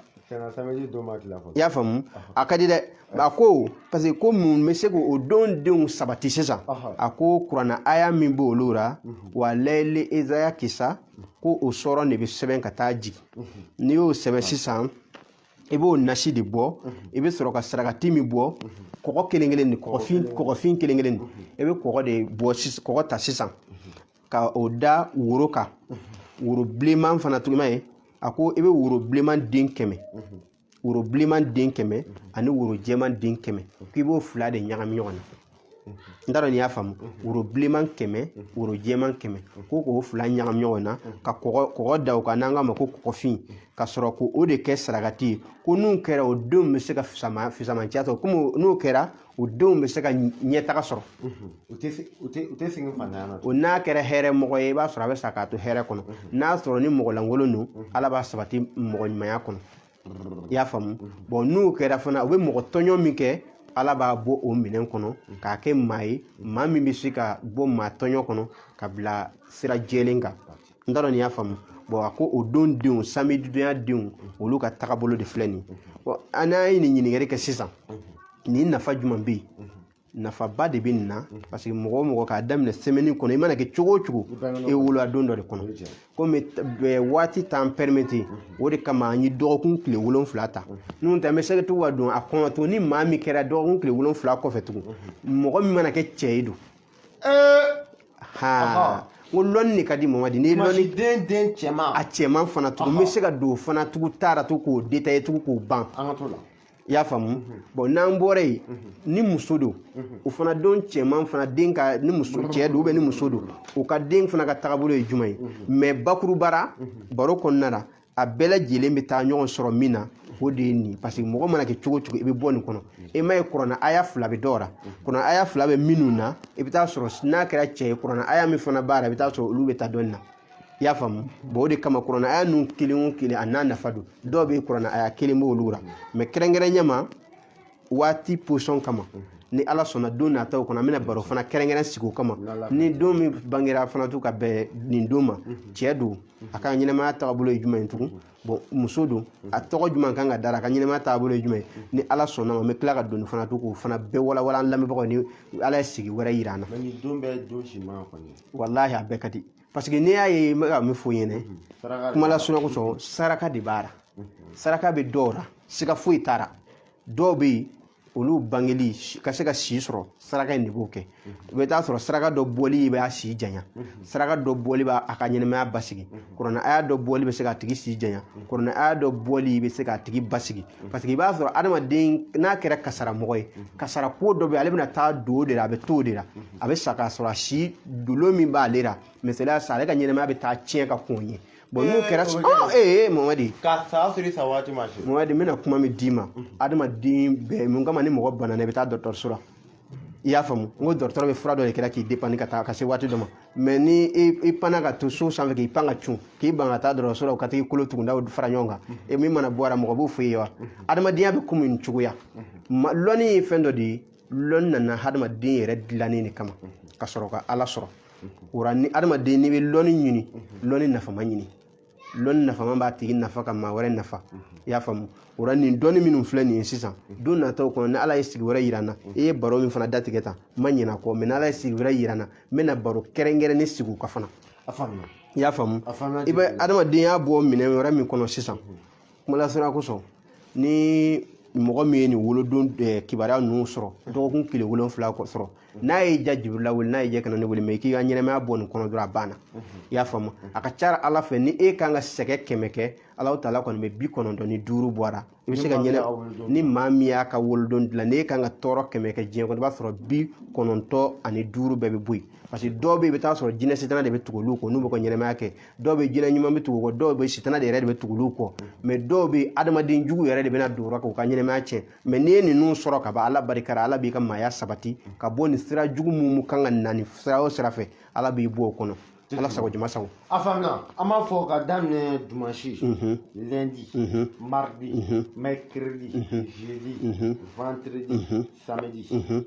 i y'a faamu a ka di dɛ a ko parce que ko mun bɛ se k'o don denw sabati sisan Ɔhɔ. a ko kuranɛ aya min b'olu la wa layili iza yakisa ko o sura de bɛ sɛbɛn ka taa jigin n'i y'o sɛbɛn sisan i b'o nasi de bɔ i bɛ sɔrɔ ka sarakati min bɔ kɔgɔ kelen kelen nin kɔgɔfin kelen kelen nin i bɛ kɔgɔ de bɔ kɔgɔ ta sisan ka o da woro kan woro bilenman fana tugun i m'a ye a ko i bɛ woro bilenman den kɛmɛ woro bilenman den kɛmɛ ani woro jɛman den kɛmɛ k'i b'o fila de ɲagami ɲɔgɔn na n t'a dɔn n'i y'a faamu woro bilenman kɛmɛ woro jɛman kɛmɛ ko k'o fila ɲagami ɲɔgɔn na ka kɔgɔ kɔgɔ da o kan n'an k'a ma ko kɔgɔfin ka sɔrɔ k'o de kɛ sarakati ye ko n'o kɛra o denw bɛ se ka fisama fisamanciya sɔrɔ komi o- n'o kɛra o denw bɛ se ka ɲ- ɲɛtaga sɔrɔ u tɛ se- u tɛ u tɛ sɛgɛn fantanya na o n'a kɛra hɛrɛ mɔgɔ ye i b'a sɔrɔ a bɛ sa k'a to hɛrɛ kɔnɔ n'a sɔrɔ ni mɔgɔ lankolon don ala b'a sabati mɔgɔ ɲumanya kɔnɔ i y'a faamu bon n'o kɛra fana u bɛ mɔgɔ tɔɲɔ min kɛ ala b'a bɔ o minɛn kɔnɔ k'a kɛ maa ye maa min bɛ se ka bɔ maa tɔɲɔ kɔnɔ ka bila sira jɛlen kan n t'a dɔn n'i y'a faamu bon a ko o don denw samedi donya denw olu ka tagabolo de filɛ nin ye bon an n'an ye nin ɲininkali kɛ sisan nin nafa jumɛn bɛ yen nafaba de bɛ nin na mhm. parce que mɔgɔ o mɔgɔ k'a daminɛ semaine kɔnɔ i mana kɛ cogo o cogo e wolola don dɔ de kɔnɔ komi waati t'an permettre mhm. o de kama an ye dɔgɔkun tile wolonfila ta mhm. n'o tɛ an bɛ se ka tugu ka don a kɔnɔ to ni maa min kɛra dɔgɔkun tile wolonfila kɔfɛ tugun mɔgɔ min mana kɛ cɛ ye don ha ko lundi de ka di mardi ni lundi den den cɛman a cɛman fana tugun n bɛ se ka don fana tugun taara to k'o détailler tugun k'o ban an ka to la i y'a faamu mhm. bon n'an bɔra yen mhm. ni muso don mhm. o fana don cɛman fana den ka ni muso cɛ don ou bien ni muso don o ka den fana ka tagabolo ye jumɛn ye mais bakuruba ra baro kɔnɔna la a bɛɛ lajɛlen bɛ taa ɲɔgɔn sɔrɔ min na o de ye nin parce que mɔgɔ mana kɛ cogo o cogo i bɛ bɔ nin kɔnɔ e m'a ye kuranɛ aya fila bɛ dɔw la kuranɛ aya fila bɛ minnu na i bɛ taa sɔrɔ n'a kɛra cɛ ye kuranɛ aya min fana b'a la i bɛ taa sɔrɔ olu bɛ taa dɔɔnin na i y'a faamu bon o de kama kuranɛ aya ninnu kelen o kelen a n'a nafa don dɔw bɛ kuranɛ aya kelen b'olu la mais kɛrɛnkɛrɛnya ma waati position kama ni ala sɔnna don nataw kɔnɔ an bɛna baro fana kɛrɛnkɛrɛn sigi o kama ni den min bangera fana tugun ka bɛn nin don ma cɛ don a ka ɲɛnamaya tagabolo ye jumɛn ye tugun bon muso don a tɔgɔ jumɛn kan ka da a ra a ka ɲɛnamaya taabolo ye jumɛn ye ni ala sɔnn'a ma n bɛ tila ka don nin fana to k'o fana bɛɛ walawala an lamɛnbagaw ni ala ye sigi wɛrɛ yira an na mais nin don bɛɛ don si man go ni walahi a bɛɛ ka di parce que n'i y'a ye n bɛ ka min fɔ i ɲɛna saraka de kuma la sɔnna kosɔn saraka de b'a la saraka bɛ dɔw la siga foyi t'a la dɔw bɛ yen olu bangeli ka se ka si sɔrɔ saraka in de b'o kɛ i bɛ taa sɔrɔ saraka dɔ bɔli b'a si janya saraka dɔ bɔli b'a ka ɲɛnamaya basigi kuranɛ aya dɔ bɔli bɛ se k'a tigi si janya kuranɛ aya dɔ bɔli bɛ se k'a tigi basigi parce que i b'a sɔrɔ adamaden n'a kɛra kasaramɔgɔ ye kasara ko dɔ bɛ ale bɛna taa don o de la a bɛ to o de la a bɛ sa k'a sɔrɔ a si dolo min b'ale la misaliya sa ale ka ɲɛnamaya bɛ taa tiɲɛ ka kɔn ye bon n'o kɛra ɔ ee mamadi ka sa siri sa waati ma se mamadi n bɛna kuma min d'i ma adamaden bɛɛ mun kama ni mɔgɔ banana i bɛ taa dɔgɔtɔrɔso la i y'a faamu n ko dɔgɔtɔrɔ bɛ fura dɔ de kɛ i ra k'i dépanner ka taa ka se waati dɔ ma mais ni i panna ka to so sanfɛ k'i pan ka cun k'i ban ka taa dɔgɔtɔrɔso la ka t'i kolo tugundaw fara ɲɔgɔn kan e min mana bɔ a la mɔgɔ b'o f'i ye wa adamadenya bɛ komi nin cogoya lɔnni ye fɛn dɔ de ye lɔnni nana hadamaden yɛrɛ dilanni de kama ka sɔrɔ ka ala sɔrɔ o ra ni hadamaden n'i bɛ lɔnni ɲini lɔnni nafama ɲini lɔnni nafama b'a tigi nafa ka maa wɛrɛ nafa i y'a faamu o la nin dɔnni minnu filɛ nin ye sisan don nataw kɔnɔ ni ala ye sigi wɛrɛ yira n na i ye baro min fana datigɛ tan n ma ɲinɛ a kɔ mais ni ala ye sigi wɛrɛ yira n na n bɛna baro kɛrɛnkɛrɛnnen sigi o kan fana i y'a faamu i bɛ adamadenya bɔ minɛn wɛrɛ min kɔnɔ sisan kumalasira kosɔn ni mɔgɔ min ye nin wolodon kibaruya ninnu sɔrɔ dɔgɔkun tile wolonfila kɔ sɔrɔ n'a ye ja jibirila wele n'a ye ja kana ne wele mais k'i ka ɲɛnamaya bɔ nin kɔnɔ dɔrɔn a banna i y'a faamu a ka ca ala fɛ ni e kan ka sɛgɛ kɛmɛ kɛ ala taala kɔni bɛ bi kɔnɔntɔn ni duuru bɔ a ra i bɛ se ka ɲɛnɛ ni maa min y'a ka wolodon dilan n'e kan ka tɔɔrɔ kɛmɛ kɛ diɲɛ kɔnɔ i b'a sɔrɔ bi kɔnɔntɔn ani duuru bɛɛ bɛ bɔ yen parce que dɔw bɛ yen i bɛ t'a sɔrɔ jinɛ sitana de bɛ tugu olu kɔ n'u bɛ ka ɲɛnamaya kɛ dɔw bɛ jinɛ ɲuman bɛ tugu kɔ dɔw bɛ sitana de yɛrɛ de bɛ tugu olu kɔ mais dɔw bɛ adamaden jugu yɛrɛ de bɛna don o ra k'u ka ɲɛnamaya tiɲɛ mais n'i ye ninnu sɔrɔ ka ban ala barika ra ala b'i ka maaya sabati ka bɔ nin sira jugu minnu kan ka na nin sira o sira fɛ ala b'i bɔ o kɔnɔ ala sago jama sago a faamuna an b'a fɔ ka daminɛ dimanche lundi mardi mercredi jeudi vendredi samedi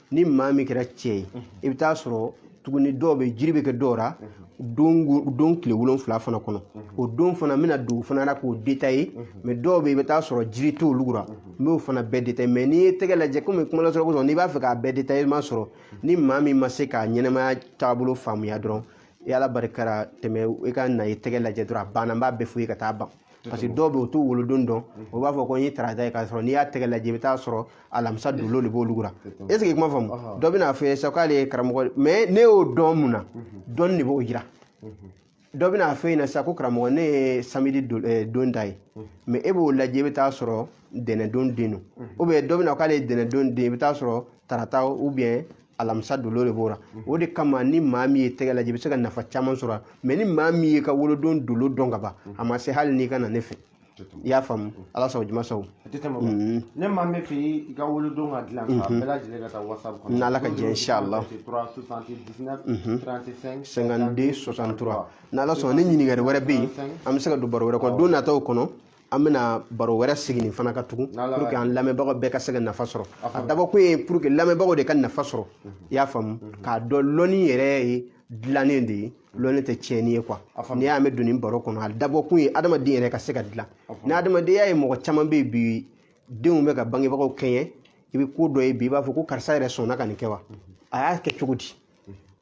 ni maa min kɛra cɛ ye i bɛ taa sɔrɔ tuguni dɔw bɛ jiri bɛ kɛ dɔw la don wo- don tile wolonfila fana kɔnɔ o don fana n bɛna don o fana na k'o détailler mais dɔw bɛ yen i bɛ taa sɔrɔ jiri t'olu la n b'o fana bɛɛ détailler mais n'i ye tɛgɛ lajɛ komi kuma lasɔrɔ kosɔn n'i b'a fɛ k'a bɛɛ détailler i ma sɔrɔ ni maa min ma se k'a ɲɛnamaya taabolo faamuya dɔrɔn i ala barika ra tɛmɛ i ka na i tɛgɛ lajɛ dɔrɔn a banna n b'a bɛɛ f'i ye ka taa ban parce que dɔw bɛ u t'u wolodon dɔn o b'a fɔ ko n ye tarata ye k'a sɔrɔ n'i y'a tɛgɛ lajɛ i bɛ taa sɔrɔ alamisa dolo de b'olu la est ce que i kuma faamu dɔ bɛna fɔ ye sa k'ale ye karamɔgɔ mais ne y'o dɔn mun na dɔnni de b'o jira dɔ bɛna fɔ yen na sa ko karamɔgɔ ne ye samedi don eh, don ta ye mais e b'o lajɛ i bɛ taa sɔrɔ tɛnɛndon den don ou bien dɔ bɛna k'ale ye tɛnɛndon den i bɛ taa sɔrɔ tarata ou bien alamisa dolo de b'o la o de kama ni maa min ye tɛgɛ lajɛ i bɛ se ka nafa caman sɔrɔ mais ni maa min ye ka wolodon dolo dɔn ka ban a ma se hali n'i ka na ne fɛ i y'a faamu ala sago jama sago mm-hmm. ni maa min fɛ i ka wolodon ka dilan ka mm-hmm. bɛɛ lajɛlen ka taa whatsapp kɔnɔ n'ala ka jɛ inshallah 52 63 n'ala sɔnna ni ɲininkali wɛrɛ bɛ yen an bɛ se k'a don baro wɛrɛ kɔnɔ don nataw kɔnɔ an bɛna baro wɛrɛ sigi nin fana kan tugun pour que an lamɛnbagaw bɛɛ ka se ka nafa sɔrɔ a dabɔkun ye pour que lamɛnbagaw de ka nafa sɔrɔ i y'a faamu k'a dɔn lɔnni yɛrɛ ye dilanni de ye lɔnni tɛ tiɲɛni ye quoi n'i y'a mɛn don nin baro kɔnɔ a dabɔkun ye adamaden yɛrɛ ka se ka dilan ni adamadenya ye mɔgɔ caman bɛ yen bi denw bɛ ka bangebagaw kɛɲɛ i bɛ ko dɔ ye bi i b'a fɔ ko karisa yɛrɛ sɔnna ka nin kɛ wa a y'a kɛ cogo di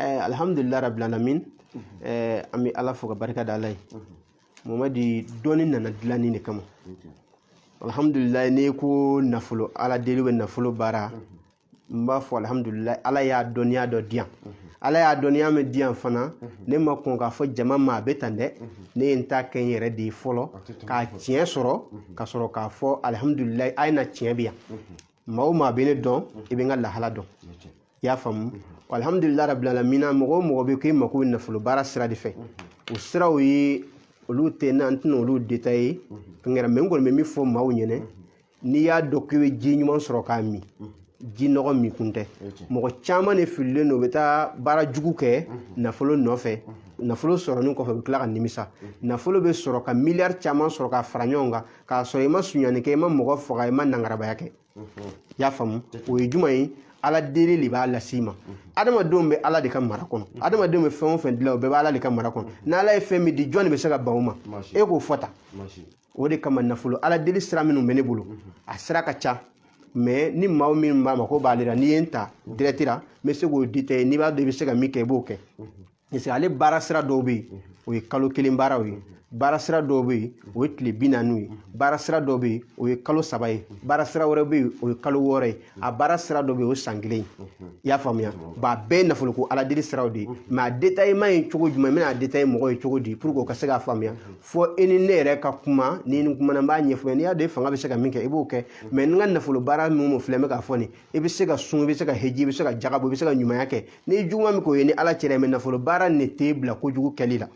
Eh, alhamdulillah rabbil alamin eh, an bɛ ala fo ka barika da ala ye mamadi dɔnni nana dilanni de kama alhamdulillah n'i ko nafolo ala deli bɛ nafolo baara n b'a fɔ alhamdulillah ala y'a dɔnniya dɔ di yan ala y'a dɔnniya min di yan fana ne ma kɔn k'a fɔ jama ma a bɛ tan dɛ ne ye n ta kɛ n yɛrɛ de ye fɔlɔ k'a tiɲɛ sɔrɔ ka sɔrɔ k'a fɔ alhamdulillah a ye na tiɲɛ bi yan maa o maa bɛ ne dɔn i bɛ n ka lahala dɔn i y'a faamu alhamdulillah rabbil alamin mɔgɔ o mɔgɔ bɛ k'i mako bɛ nafolo baara sira de fɛ o siraw ye olu tɛ na n tɛna olu detaye kɛra mais n kɔni bɛ min fɔ maaw ɲɛna n'i y'a dɔn k'i bɛ ji ɲuman sɔrɔ k'a min ji nɔgɔ min kun tɛ mɔgɔ caman de fililen don u bɛ taa baara jugu kɛ nafolo nɔfɛ nafolo sɔrɔlen kɔfɛ u bɛ tila ka nimisa nafolo bɛ sɔrɔ ka miliyari caman sɔrɔ ka fara ɲɔgɔn kan k'a sɔrɔ i ma sunyanni kɛ i ma mɔgɔ faga i ma nangarabaya kɛ i y'a faamu o ye jumɛn ye ala deli de b'a las'i ma adamadenw bɛ ala de ka mara kɔnɔ adamadenw bɛ fɛn o fɛn dilan o bɛɛ bɛ ala de ka mara kɔnɔ n'ala ye fɛn min di jɔn de bɛ se ka ban o ma e k'o fɔ ta o de kama nafolo ala deli sira minnu bɛ ne bolo a sira ka ca mais ni maa min b'a mako b'ale la n'i ye n ta direct la n bɛ se k'o detaye n'i b'a dɔn i bɛ se ka min kɛ i b'o kɛ parce que ale baara sira dɔw bɛ yen o ye kalo kelen baaraw ye baara sira dɔw bɛ yen o ye tile bi naaniw ye baara sira dɔw bɛ yen o ye kalo saba ye baara sira wɛrɛ bɛ yen o ye kalo wɔɔrɔ ye a baara sira dɔw bɛ yen o ye san kelen ye i y'a faamuya ba a bɛɛ ye nafoloko ala deli siraw de ye mais a detayema ye cogo jumɛn n bɛna a detaye mɔgɔ ye cogo di pour que o ka se k'a faamuya fo e ni ne yɛrɛ ka kuma ni ni kumana n b'a ɲɛfɔ n'i y'a dɔn e fanga bɛ se ka min kɛ i b'o kɛ mais n ka nafolo baara min filɛ n bɛ k'a fɔ nin i bɛ se ka sun i bɛ se ka heji i bɛ se ka jaka bɔ i bɛ se ka ɲumanya kɛ ni juguman min k'o y'i ni ala cɛ ra mais nafolo baara nin t'i bila kojugu kɛli la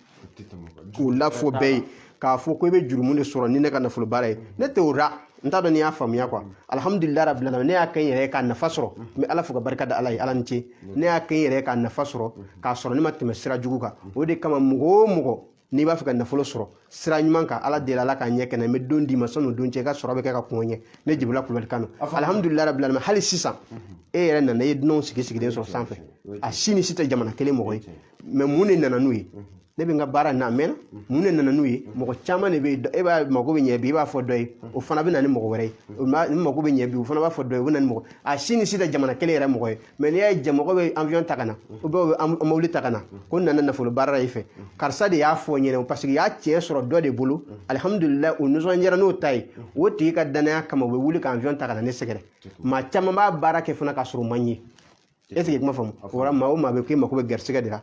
k'o lafɔ bɛɛ ye k'a fɔ ko i bɛ jurumu de sɔrɔ ni ne ka nafolo baara ye ne tɛ o ra n t'a dɔn n'i y'a faamuya quoi alhamdulillah rabbil alamin ne y'a kɛ n yɛrɛ ye k'a nafa sɔrɔ n bɛ ala fo ka barika da ala ye ala ni ce ne y'a kɛ n yɛrɛ ye k'a nafa sɔrɔ k'a sɔrɔ ne ma tɛmɛ sira jugu kan o de kama mɔgɔ o mɔgɔ n'i b'a fɛ ka nafolo sɔrɔ sira ɲuman kan ala deli ala k'a ɲɛ kɛ n na n bɛ don d'i ma sani o don cɛ i ka sɔrɔ bɛ kɛ ka kunko ɲɛ ne jibirila kulubali kan alihamudulila rabi alamin hali sisan e yɛrɛ nana i ye dunanw sigi sigilen sɔrɔ sanfɛ a si ni si tɛ jamana kelen mɔgɔ ye mɛ mun de nana n'u ye ne bɛ n ka baara na mɛnna mun de nana n'u ye mɔgɔ caman de bɛ yen e b'a mako bɛ ɲɛ bi i b'a fɔ dɔ ye o fana bɛ na ni mɔgɔ wɛrɛ ye nin mako bɛ ɲɛ bi o fana b'a fɔ dɔ ye o bɛ na ni mɔgɔ a si ni si tɛ jamana kelen yɛrɛ mɔgɔ ye mɛ n'i y'a ye jaa mɔgɔ bɛ avion ta ka na u bɛ u bɛ mobili ta ka na ko n nana nafolo baara la i fɛ karisa de y'a fɔ n ɲɛna parce que y'a tiɲɛ sɔrɔ dɔ de bolo alihamudulilayi u nisɔndiyara n'o ta ye o tigi ka danaya kama u bɛ wuli ka avion ta ka na ne sɛgɛrɛ maa caman b'a baara kɛ fana k'a sɔrɔ u ma n ye est ce que kuma faamu o la maa o maa bɛ k'i mako bɛ garisigɛ de la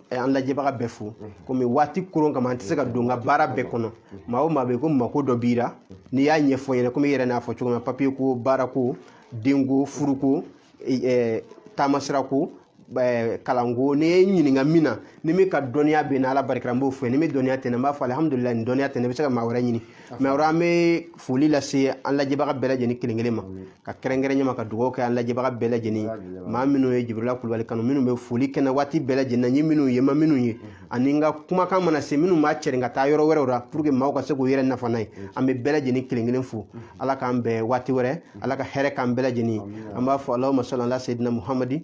an lajɛbaga bɛɛ fo komi waati koron kama an tɛ se ka don n ka baara bɛɛ kɔnɔ maa o maa bɛ ko mako dɔ b'i la n'i y'a ɲɛfɔ n ɲɛna komi i yɛrɛ n'a fɔ cogo min na papiye ko baara ko denko furuko taamasira ko kalanko n'i ye n ɲininka min na ni min ka dɔnniya bɛ n na ala barika la n b'o fɔ i ye ni min dɔnniya tɛ n na n b'a fɔ alihamudulila nin dɔnniya tɛ n na i bɛ se ka maa wɛrɛ ɲini mɛ o la an bɛ foli lase an lajɛbaga bɛɛ lajɛlen kelen kelen ma ka kɛrɛnkɛrɛnya ma ka dugawu kɛ an lajɛbaga bɛɛ lajɛlen maa minnu ye jibirila kulubali kanu minnu bɛ foli kɛ n na waati bɛɛ lajɛlen na n ye minnu ye n ma minnu ye ani n ka kumakan mana se minnu b'a cɛrin ka taa yɔrɔ wɛrɛw la pour que maaw ka se k'u yɛrɛ nafa n'a ye an bɛ bɛɛ lajɛlen kelen kelen fo ala k'an bɛn waati wɛrɛ ala ka hɛrɛ k'an bɛɛ lajɛlen an b'a fɔ alahuma sali ala seyidina muhamadi